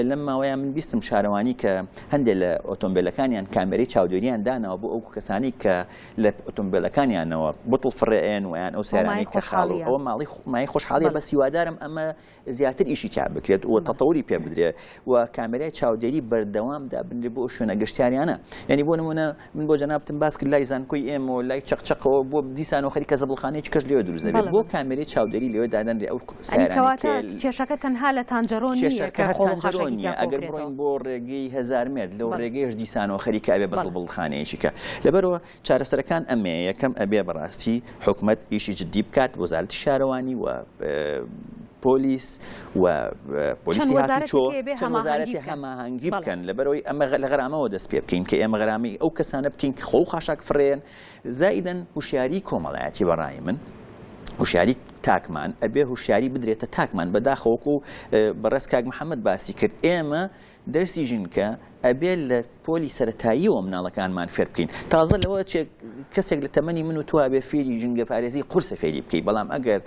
لەم ماوەیە من بیستم شارەوانی کە هەندێک لە ئۆتۆمبیلەکانیان کامێری چاودێریان داناوە بۆ ئەو کەسانی کە لە ئۆتۆمبیلەکانیانەوە بتڵ فڕێن ویان ئەو سەرانی کە خاڵی ئەوە ماڵی مای خۆشحاڵی بە سیوادارم ئەمە زیاتر ئیشی تیا بکرێت و تەتەوری پێ بدرێ و کامێرای چاودێری بەردەوام دابنرێ بۆ شوێنە گەشتیاریانە یعنی بۆ نمونە من بۆ جەنابتم باس کرد لای زانکۆی ئێمە و لای چەقچەقەوە بۆ دیسان و خەریکە زەبڵخانەی چکەش لێوە دروست دەبێت بەڵێ بۆ بەڵێ کامێرای چاودێری لێوە دادەنرێ ئەو یعنی سیارانەی کەواتە کێل کێشەکە تەنها لە تانجەرۆ نییە کێشەکە کە هەر خۆڵ و تانجەرۆ خاشاکی نییە تیا ئەگەر بڕۆین کۆکرێتەوە بۆ ڕێگەی هەزار مێرد لەو بەڵێ ڕێگەیەش دیسانەوە خەریکە ئەبێ بە بەڵێ زەبڵخانەیەکی کە لەبەرەوە چارەسەرەکان ئەمەیە یەکەم ئەبێ بەڕاستی حکومت ئیشی جددی بکات وەزارتی شارەوانی و پۆلیس و پۆلیسی وەزارەتی هەماهنگگی بکەن لەبەرەوەی ئەمە لە غرامەوە دەست پێ بکەین کە ئێمە غرامی ئەو کەسانە بکەین کە خۆ خاشاک فرێن زائیدەن هوشیاری کۆمەڵایەتی بەڕای من هوشیاری تاکمان ئەبێ هوشیاری بدرێتە تاکمان بەداخەوەکو بەڕێز کاک محەممەد باسی کرد ئێمە دەرسی ژینگە ئەبێت لە پۆلی سەتاییەوە مناڵەکانمان فێر بکەین تازە لەوە کەسێک لە تەمەنی من و تو بێ فێری ژینگە پارێزی قرسە فێری بکەیت بەڵام ئەگەر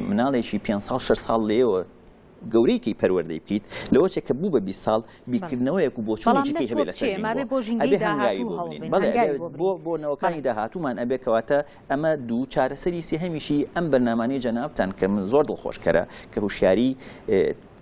مناڵێکی پێ ساڵ شش ساڵ لێەوە گەورەیەکی پەروەردەی بکیت لەوە چێک کە بوو بە بی ساڵ بیکردنەوەیەک و بۆچونێکی هەبێت لە بۆ نەوەکانی داهاتوومان ئەبێ کەواتە ئەمە دوو چارەسەری سێهمیشی ئەم بەرنمانەی جەنابان کە من زۆر دڵخۆشکەرە کە هوشیاری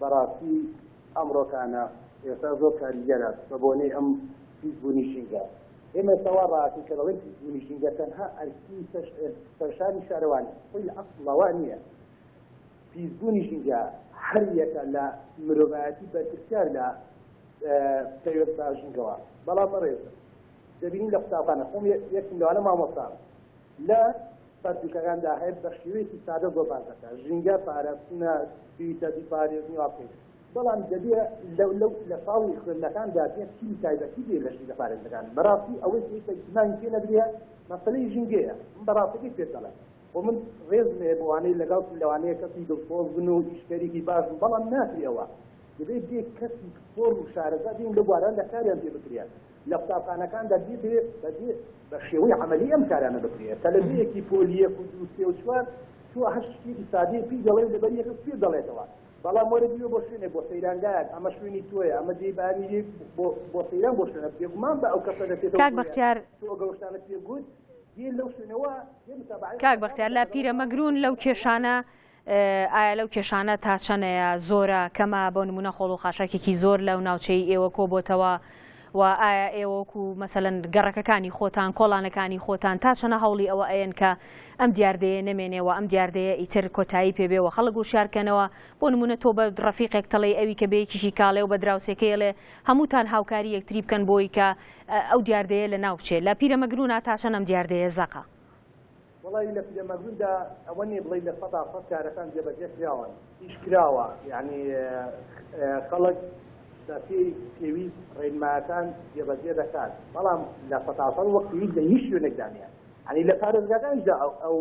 بەڕاستی ئەمڕۆکانە ئێستا زۆر کاریگەرە بە بۆنەی ئەم پیس بوونی ژینگە ئێمە ئێستا وا ڕاکەین کە دەڵێن پیس بوونی ژینگە تەنها ئەرکی سەرشانی شارەوانی خۆی لە ئەسڵەوە نییە پیس بوونی ژینگە هەر یەکە لە مرۆڤایەتی بەرپرسیار لە پەیوەست بە ژینگەوە بەڵام بەڕێز دەبینین لە قوتابخانە خۆم یەکم لەوانە مامۆستام لە پەرتووکەکاندا هەیە بە شێوەیەکی سادە گۆڤار دەکات ژینگە پاراستنە پیتە بیپارێزن و واقعی بەڵام دەبێ لەو لەو لە ساڵی خوێندنەکاندا پێ تیمی تایبەتی بێ لە ژینگە پارێزەکان بەڕاستی ئەوەی پێویستە ئیتمانی پێ نەدرێ مەسەلەی ژینگەیە من بەڕاستەکەی پێت دەڵێم و من ڕێزم هەیە بۆوانەی لەگەڵ لەوانەیە کەسی دڵسۆز بن و ئیشکەرێکی باش بن بەڵام ناکرێەوە دەبێت بێ کەسی پسپۆر و شارەزا بین لە بواران لە کاریان پێ بکرێت لە قوتابخانەکاندا بیکرێت بەبێ بە شێوەی عملی ئەم کارانە بکرێت تەلەبیەکی پۆلیەک و دو سێ و چوار تۆ هەر شتێکی سادەی پی دەڵێ لەبەر یەکە پێ دەڵێتەوە بەڵام وەرە بیوە بۆ شوێنێک بۆ سەیرانگایەک ئەمە شوێنی تۆیە ئەمە جێی بانی بۆ سەیران بۆ شوێنە بێگومان بە ئەو کەسە دەچێتەوە کاک بەختیار تۆ گەوشتانە پێ گوت کاک بەختیار لا پیرە مەگرون لەو کێشانە ئایا لەو کێشانە تا چەنەیە زۆرە کەمە بۆ نمونە خۆڵ و خاشاکێکی زۆر لەو ناوچەی ئێوە کۆ بۆتەوە و ئایا ئێوەک و مەسەن گەڕەکەکانی خۆتان کۆڵانەکانی خۆتان تا چەنە هەوڵی ئەوە ئەەن کە ئەم دیاردەیە نەمێنێەوە ئەم دیاردەیە ئیتر کۆتایی پێبێەوە خەڵک و شارکەنەوە بۆ نمونە تۆ بە ڕفیقێک تەڵی ئەوی کە بەیەکیشی کاڵێ و بە دراوسەکەیڵێ هەمووتان هاوکاری یەکتری بکەن بۆی کە ئەو دیاردەیە لە ناوچێ لە پیرەمەگررونا تا چەنەم دیاردەیە زەقە. وەڵایی لە پیرەمەگرووندا ئەوە نیە بڵێی لە سەدا سەد کارەکان جێبەجێ کراون ئیش کراوە یەعنی خەڵک بە پێی پێویست ڕێنمایەکان جێبەجێ دەکات بەڵام لە سەدا سەد وەک پێویست لە هیچ شوێنێکدا نیە یەعنی لە پارێزگاکانیشدا ئەو ئەو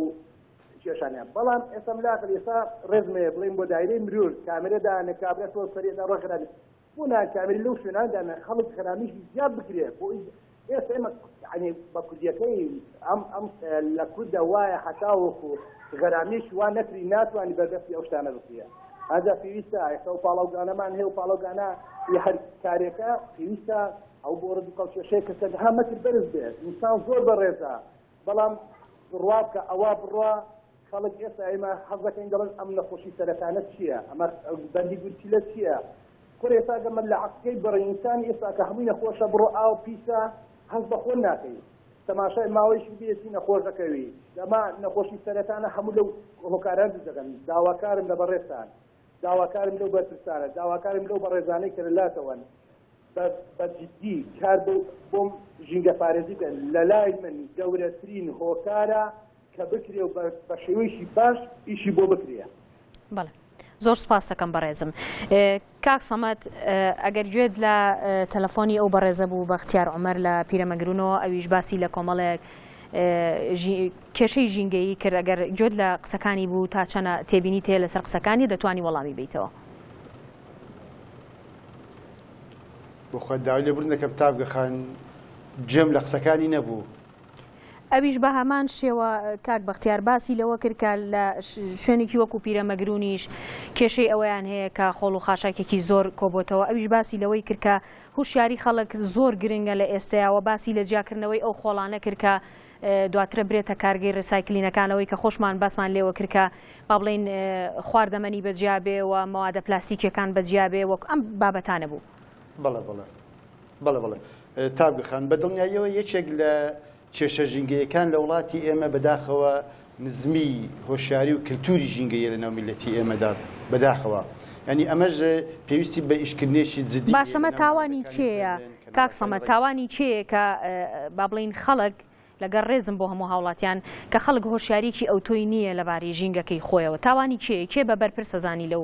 کێشانیان بەڵام ئێستا ملاکە ئێستا ڕێزمەیە بڵێین بۆ دایرەی مرور کامێرە دانێ کابرا تۆ سەرێدا ڕۆژ خراپی بۆ نایە کامێری لەو شوێنانە دانێ خەڵک خەرامیشی زیاد بکرێ بۆ ئێستا ئێمە یعنی بە کوردیەکەی ئەم ئەم لە کوردە وایە هەتاوەکو غەرامیش وا نەکری ناتوانانی بەردەستی ئەو شتانە بکرێ هەدا پێویستە ئێستا و پاڵاوگانەمان هەیە و پاڵۆگانە هەر کارێکە پێویستە ئەو بۆ ڕدوکەڵکێشەیە کەسە هەمەتر بەرز بێت ئینسان زۆر بەڕێزە بەڵام بڕوا بکە ئەوا بڕوا خەڵک ئێستا ئێمە حەز دەکەین دەڵێن ئەم نەخۆشی سەرەتانە چییە ئەمە بەندی گورچیلە چییە کورە ئێستا گە من لە عەقکەی بەڕینسانی ئێستا کە هەمووی نەخۆشە بڕۆ ئاو پیسە هەز بە خۆن ناکەی تەماشای ماوەیش بێسی نەخۆش دەکەوی دەما نەخۆشی سەرەتانە هەموو لەو هۆکاران دەگەن داواکارم لە بەڕێستان داواکارم لەو بەرپرسانە، داواکارم لەو بەڕێزانەی کە لەلاتەوەن بە بە جدی کار بۆ بۆم ژینگەپارێزی بکەن، لەلای من گەورەترین هۆکارە کە بکرێ و بە بە شێوەیەکی باش ئیشی بۆ بکرێ. بەڵێ زۆر سپاستەکەم بەڕێزم ئێ، کاک سەمەد ئێ، ئەگەر گوێت لە ئێ، تەلەفۆنی ئەو بەڕێزە بوو بەختیار عومەر لە پیرەمەگرونەوە ئەویش باسی لە کۆمەڵێک ئێ، ژی کێشەی ژینگەیی کرد ئەگەر گوێت لە قسەکانی بوو تا چەنە تێبینیت هەیە لەسەر قسەکانی دەتوانی وەڵامی بیتەوە. بۆخوات داوای لێ بوردن دەکەم تاڤگە خان گوێم لە قسەکانی نەبوو. ئەویش بە هەمان شێوە کاک بەختیار باسی لەوە کرد کە لە شوێنێکی وەکو پیرەمەگرونیش کێشەی ئەوەیان هەیە کە خۆڵ و خاشاکێکی زۆر کۆبۆتەوە ئەویش باسی لەوەی کرد کە هوشیاری خەڵک زۆر گرنگە لە ئێستەیە وە باسی لە جیاکردنەوەی ئەو خۆڵانە کرد کە دواترە برێتە کارگەی ڕیسایکلینەکان ئەوەی کە خۆشمان باسمان لێوە کرد کە با بڵێین خواردەمەنی بە جیا بێ و مەوادە پلاستیکیەکان بە جیا بێ وەک ئەم بابەتانە بوو بەڵێ بڵێ بەڵێ بڵێ تاگەخان بە دڵنیاییەوە یەکێک لە کێشە ژینگەیەکان لە وڵاتی ئێمە بەداخەوە نزمی هۆشیاری و کلتوری ژینگەییە لەناو میللەتی ئێمەدا بەداخەوە یانی ئەمەش پێویستی بە ئیشکردنێکی جدی هەیە باشە مە تاوانی کێیە کاک سەمەد تاوانی کێیە کە با بڵێین خەڵک لەگەر ڕێزم بۆ هەموو هاوڵاتیان کە خەڵک هۆشیاریکی ئەوتۆی نییە لەباری ژینگەکەی خۆیەوە تاوانی کێ کێ بە بەرپرسە زانی لەو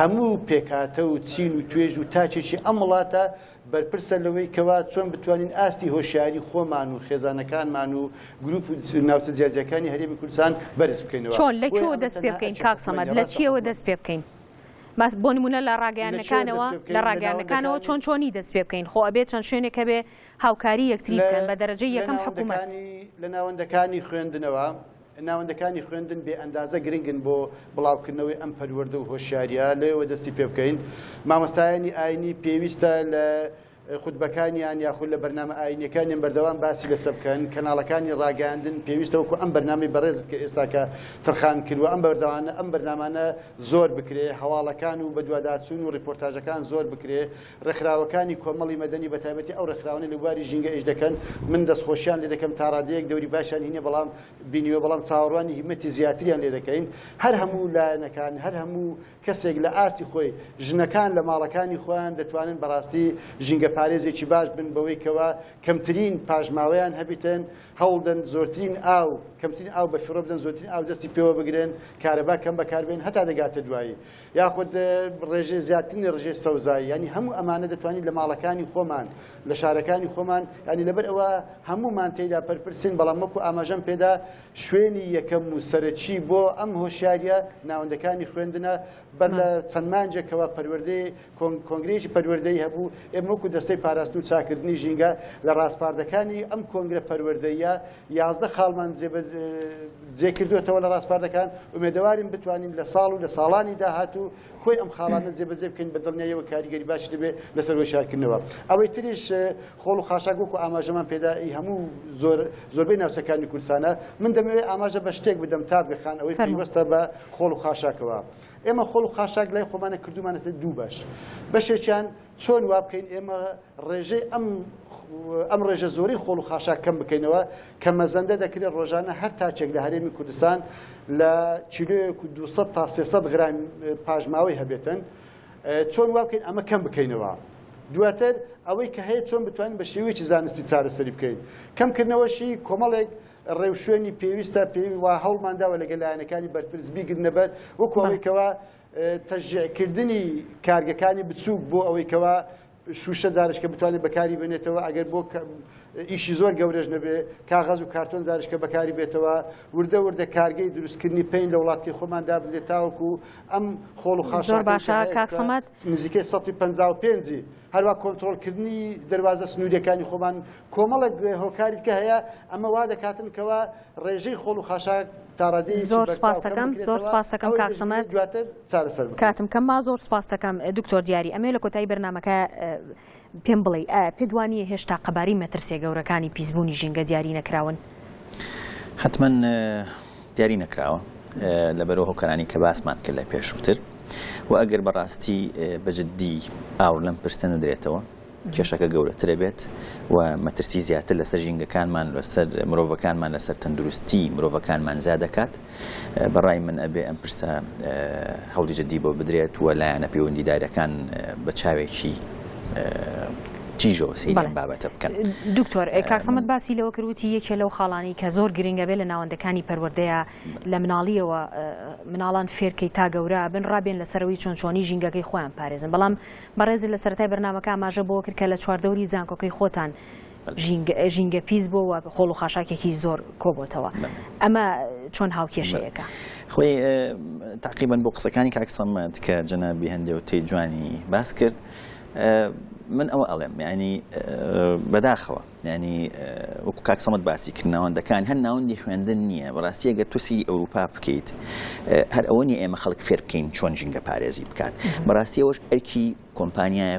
هەموو پێکهاتە و چین و توێژ و تاکێکی ئەم وڵاتە بەرپرسە لەوەی کەوا چۆن بتوانین ئاستی هۆشیاری خۆمان و خێزانەکانمان و گروپ و ناوچە جیاجیاکانی هەرێمی کوردستان بەرز بکەینەوە. چۆن؟ لە کوێوە دەست پێ بکەین کاک سەمەد؟ لە چییەوە دەست پێ بکەین؟ بۆ نموونە لە ڕاگەیاندنەکانەوە، لە ڕاگەیاندنەکانەوە چۆن چۆنی دەست پێ بکەین؟ خۆ ئەبێ چەند شوێنێک هەبێ هاوکاری یەکتری بکەن، بە دەرەجەی یەکەم حکوومەت. لە ناوەندەکانی خوێندنەوە. ناوەندەکانی خوێندن بێ ئەندازە گرنگن بۆ بڵاوکردنەوەی ئەم پەروەردە و هۆشیاریە لەوێوە دەستی پێ بکەین مامۆستایانی ئاینی پێویستە لە خودبەکانیان یاخود لە بەرنامە ئاینەکانیان بەردەوام باسی لەسە بکەن کەناڵەکانی ڕاگەاندن پێویستەوەکو ئەم بەرنامی بەڕێزت کە ئێستاکە تەرخان کردوە ئەم بەردەوانە ئەم بەرنامانە زۆر بکرێ هەواڵەکان و بەدواداچون و ڕیپۆرتاجەکان زۆر بکرێ ڕێکخراوەکانی کۆمەڵی مەدەنی بە تایبەتی ئەو ڕێکخراوانەی لە بواری ژینگە ئیش دەکەن من دەستخۆشیان لێ دەکەم تا ڕادەیەک دەوری باشیان هینێ بەڵام بینیوە بەڵام چاوەڕوانی هیمەتی زیاتریان لێ دەکەین هەر هەموو لایەنەکان هەر هەموو کەسێک لە ئاستی خۆی ژنەکان لە ماڵەکانی خۆیان دەتوانن بەڕاستی ژینگە پارێزێکی باش بن بەوەی کەوە کەمترین پاشماوەیان هەبیتن هەوڵدەن زۆرترین ئاو کەمترین ئاو بە فڕۆ بدەن زۆرترین ئاو دەستی پێوە بگرن کارەبا کەم بەکاربێن هەتا دەگاتە دوایی یاخود ڕێژەی زیادکردنی ڕژێ سەوزایی ینی هەموو ئەمانە دەتوانین لە ماڵەکانی خۆمان لە شارەکانی خۆمان ینی لەبەر ئەوە هەمومان تێدا پرپرسین بەڵام وەکو ئاماژەم پێدا شوێنی یەکەم و سەرەکی بۆ ئەم هۆشیاریە ناوەندەکانی خوێندنە بەر لە چەند مانجێکەوە پەروەردەی کۆنگرێکی پەروەردەی هەبوو ئێمە وەکو دەستەی پاراستن و چاکردنی ژینگە لە ڕاستپاردەکانی ئەم کۆنگرە پەروەردەیە یازدە خاڵمان جێبەجێ کردووەتەوە لە ڕاسپاردەکان، ئومێدەوارین بتوانین لە ساڵ و لە ساڵانی داهاتوو کۆی ئەم خاڵانە جێبەجێ بکەین، بە دڵنیاییەوە کاریگەری باشی دەبێت لەسەر هۆشیارکردنەوە. ئەوەی تریش خۆڵ و خاشاک وەکو ئاماژەمان پێدا ئی هەموو زۆر زۆربەی ناوچەکانی کوردستانە، من دەمەوێت ئاماژە بە شتێک بدەم تاڤگە خان ئەوەی پەیوەستە بە خۆڵ و خاشاکەوە. ئێمە خۆڵ و خاشاک لای خۆمانە کردوومانەتە دوو بەش، بەشێکیان، چۆن وا بکەین ئێمە ڕێژەی ئەم ئەم ڕێژە زۆری خۆڵ و خاشاک کەم بکەینەوە کە مەزەندە دەکرێت ڕۆژانە هەر تاچێک لە هەرێمی کوردستان لە کیلۆیەک و 200 تا 300 گران پاژماوەی هەبێتن چۆن وا بکەین ئەمە کەم بکەینەوە دواتر ئەوەی کە هەیە چۆن بتوانین بە شێوەیەکی زانستی چارەسەری بکەین کەمکردنەوەشی کۆمەڵێک ڕێوشوێنی پێویستە پێی وا هەوڵمانداوە لەگەلایەنەکانی بەرپرس بیگرنەبەر وەکوەوەیکەوە تەشجیعکردنی کارگەکانی بچووک بۆ ئەوەی کەوا شوشە جارشکە بتوانێت بەکاری بێنێتەوە ئەگەر بۆ ئیشی زۆر گەورەش نەبێ کاغەز و کارتۆن جارشکە بەکاری بێتەوە وردە وردە کارگەی دروستکردنی پێین لە وڵاتی خۆمان دابنێت تاوەکو ئەم خۆڵ و خاش باشە کاکسەمات نزیکەی 155 هەروا کۆنترۆڵکردنی دەروازە سنووریەکانی خۆمان کۆمەڵێک هۆکاری دیکە هەیە ئەمە وا دەکاتن کەوا ڕێژەی خۆڵ و خاشاک تاڕادەی زۆر سپاستەکەم زۆر سپاستەکەم کاک سەمەر دواتر چارەسەر کاتم کەم ما زۆر سپاستەکەم دکتۆر دیاری ئەمێ لە کۆتایی بەرنمەکە پێم بڵێ پێدوانیە هێشتا قەباری مەترسیە گەورەکانی پیسبوونی ژینگە دیاری نەکراون. حەتمەن دیاری نەکراوە لەبەر ئەو هۆکارانەی کە باسمان کرد لە پێشووتر و ئەگەر بەڕاستی بە جددی ئاوڕ لەم پرسە نەدرێتەوە کێشەکە گەورەترە بێت و مەترسی زیاتر لەسەر ژینگەکانمان لەسەر مرۆڤەکانمان لەسەر تەندروستی مرۆڤەکانمان زیاد دەکات بە ڕای من ئەبێ ئەم پرسە هەوڵی جدی بۆ بدرێت و لایەنە پەیوەندیدارەکان بە چاوێکی تیژەوە سەیرم بابەتە بکەن دکتۆر کاکسەمت باسی لەوە کردوتی یەکێ لەو خاڵانی کە زۆر گرنگە بێ لە ناوەندەکانی پەروەردەیە لە مناڵیەوە مناڵان فێرکەی تا گەورە بن ڕابێن لەسەرەوەی چۆن چۆنی ژینگەکەی خۆیان پارێزن بەڵام بەڕێزی لە سەرای بەرنمەکە ئاماژە بۆ کرد کە لە چواردەوری زانکۆکەی خۆتان ژینگە پیس بۆ و خۆڵ و خاشاکێکی زۆر کۆبتەوە ئەمە چۆن هاوکێشەیەەکە خۆی تاقیبن بۆ قسەکانی کاکسەمەند کە جەنابی هەندێ و تێ جوانی باس کرد من ئەوە ئەڵێم ینی بەداخەوە ینی وەکو کاکسەمەت باسی کرد ناوەندەکان هەر ناوەندی خوێندن نییە بەڕاستی ئەگەر تووسی ئەوروپا بکەیت هەر ئەوە نیە ئێمە خەڵک فێر بکەین چۆن ژینگە پارێزی بکات بەڕاستی ئەوش ئەرکی کۆمپانیایە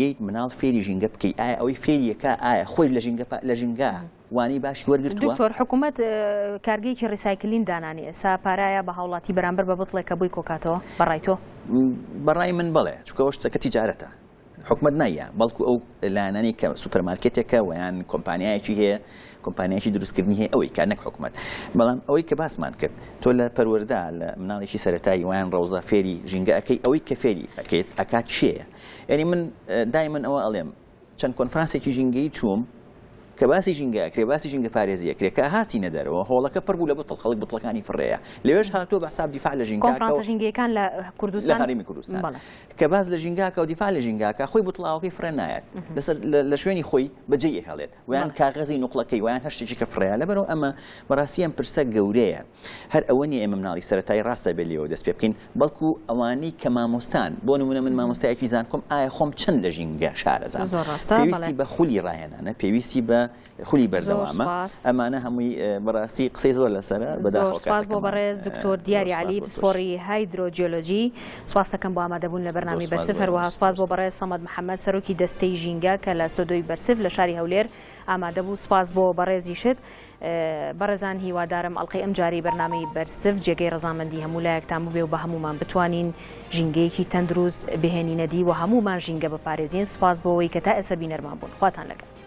یەیت مناڵ فێری ژینگە بکەی ئایا ئەوەی فێریەکە ئایا خۆی لە ژینگە لە ژینگە وانەی باشی وەرگرت دکتۆر حکوومەت کارگەیەکی ڕیسایکلین دانانی ئێسا پارایە بە هاوڵاتی بەرامبەر بە بتڵێک کە بووی کۆکاتەوە بەڕای تۆ بەڕای من بڵێ چکەوە شتەکە تیجارەتە حکومت نایە بەڵکو ئەو لایەنانی کە سوپەرمارکێتێکە ویان کۆمپانیایەکی هەیە کۆمپانیایکی دروستکردنی هەیە ئەوەی کار نەک حکومت بەڵام ئەوەی کە باسمان کرد تۆ لە پەروەەردا لە مناڵێکی سەتایی ویان ڕەوزە فێری ژینگەکەی ئەوەی کە فێری ئەکەیت ئەکات چیە یانی من دایمەن ئەوە ئەڵێم چەند کۆنفرانسێکی ژینگەی چووم کە باسی ژینگەکرێ باسی ژینگە پارێزیە کرێ کە هاتی نەدەرەوە هۆڵەکە پڕ بوو لە بتڵ خەڵک بتڵەکانی فڕەیە لەوێش هاتووە بە حساب دیفاع لە ژینگەکان لە کوردستان هەرمی کوردستان کە باز لە ژینگاکە و دیفاع لە ژینگاکە خۆی بتڵاوەکەی فرە نایەت لەسەر لە شوێنی خۆی بەجێ هەڵێت ویان کاغەزی نوقلەکەی ویان هەر شتێکی کە فڕێیا لەبەرەوە ئەمە بەڕاستی ئەم پرسە گەورەیە هەر ئەوە نیە ئێمە مناڵی سەتای ڕاستە بێ لێەوە دەست پێ بکەین بەڵکو ئەوانەی کە مامۆستان بۆ نمونە من مامۆستایەکی زانکۆم ئایا خۆم چەند لە ژینگە شارەزان پێویستی بە خولی ڕاهێنانە پێویستی بە خولی بەردەوامە ئەمانە هەمووی بەڕاستی قسەی زۆر لەسەر بەداخۆ بۆ بەڕێز دکتۆر دیاری علی پسپۆڕی هایدرۆجیۆلۆجی سپاستەکەم بۆ ئامادەبوون لە بەرنامەی بەرسڤ، هەروەها سپاس بۆ بەڕێز سەمەد محەمەد سەرۆکی دەستەی ژینگە کە لە سۆدۆی بەرسڤ لە شاری هەولێر ئامادەبوو، سپاس بۆ بەڕێزیشت. بەڕێزان هیوادارم ئەڵقەی ئەمجارەی بەرنامەی بەرسڤ جێگەی ڕەزامەندی هەموو لایەکتان ببێ و بە هەموومان بتوانین ژینگەیەکی تەندروست بهێنینە دی و هەموومان ژینگە بپارێزین، سپاس بۆ ئەوەی کە تا ئێستا بینەرمان بوون. خواتان لەگەڵ.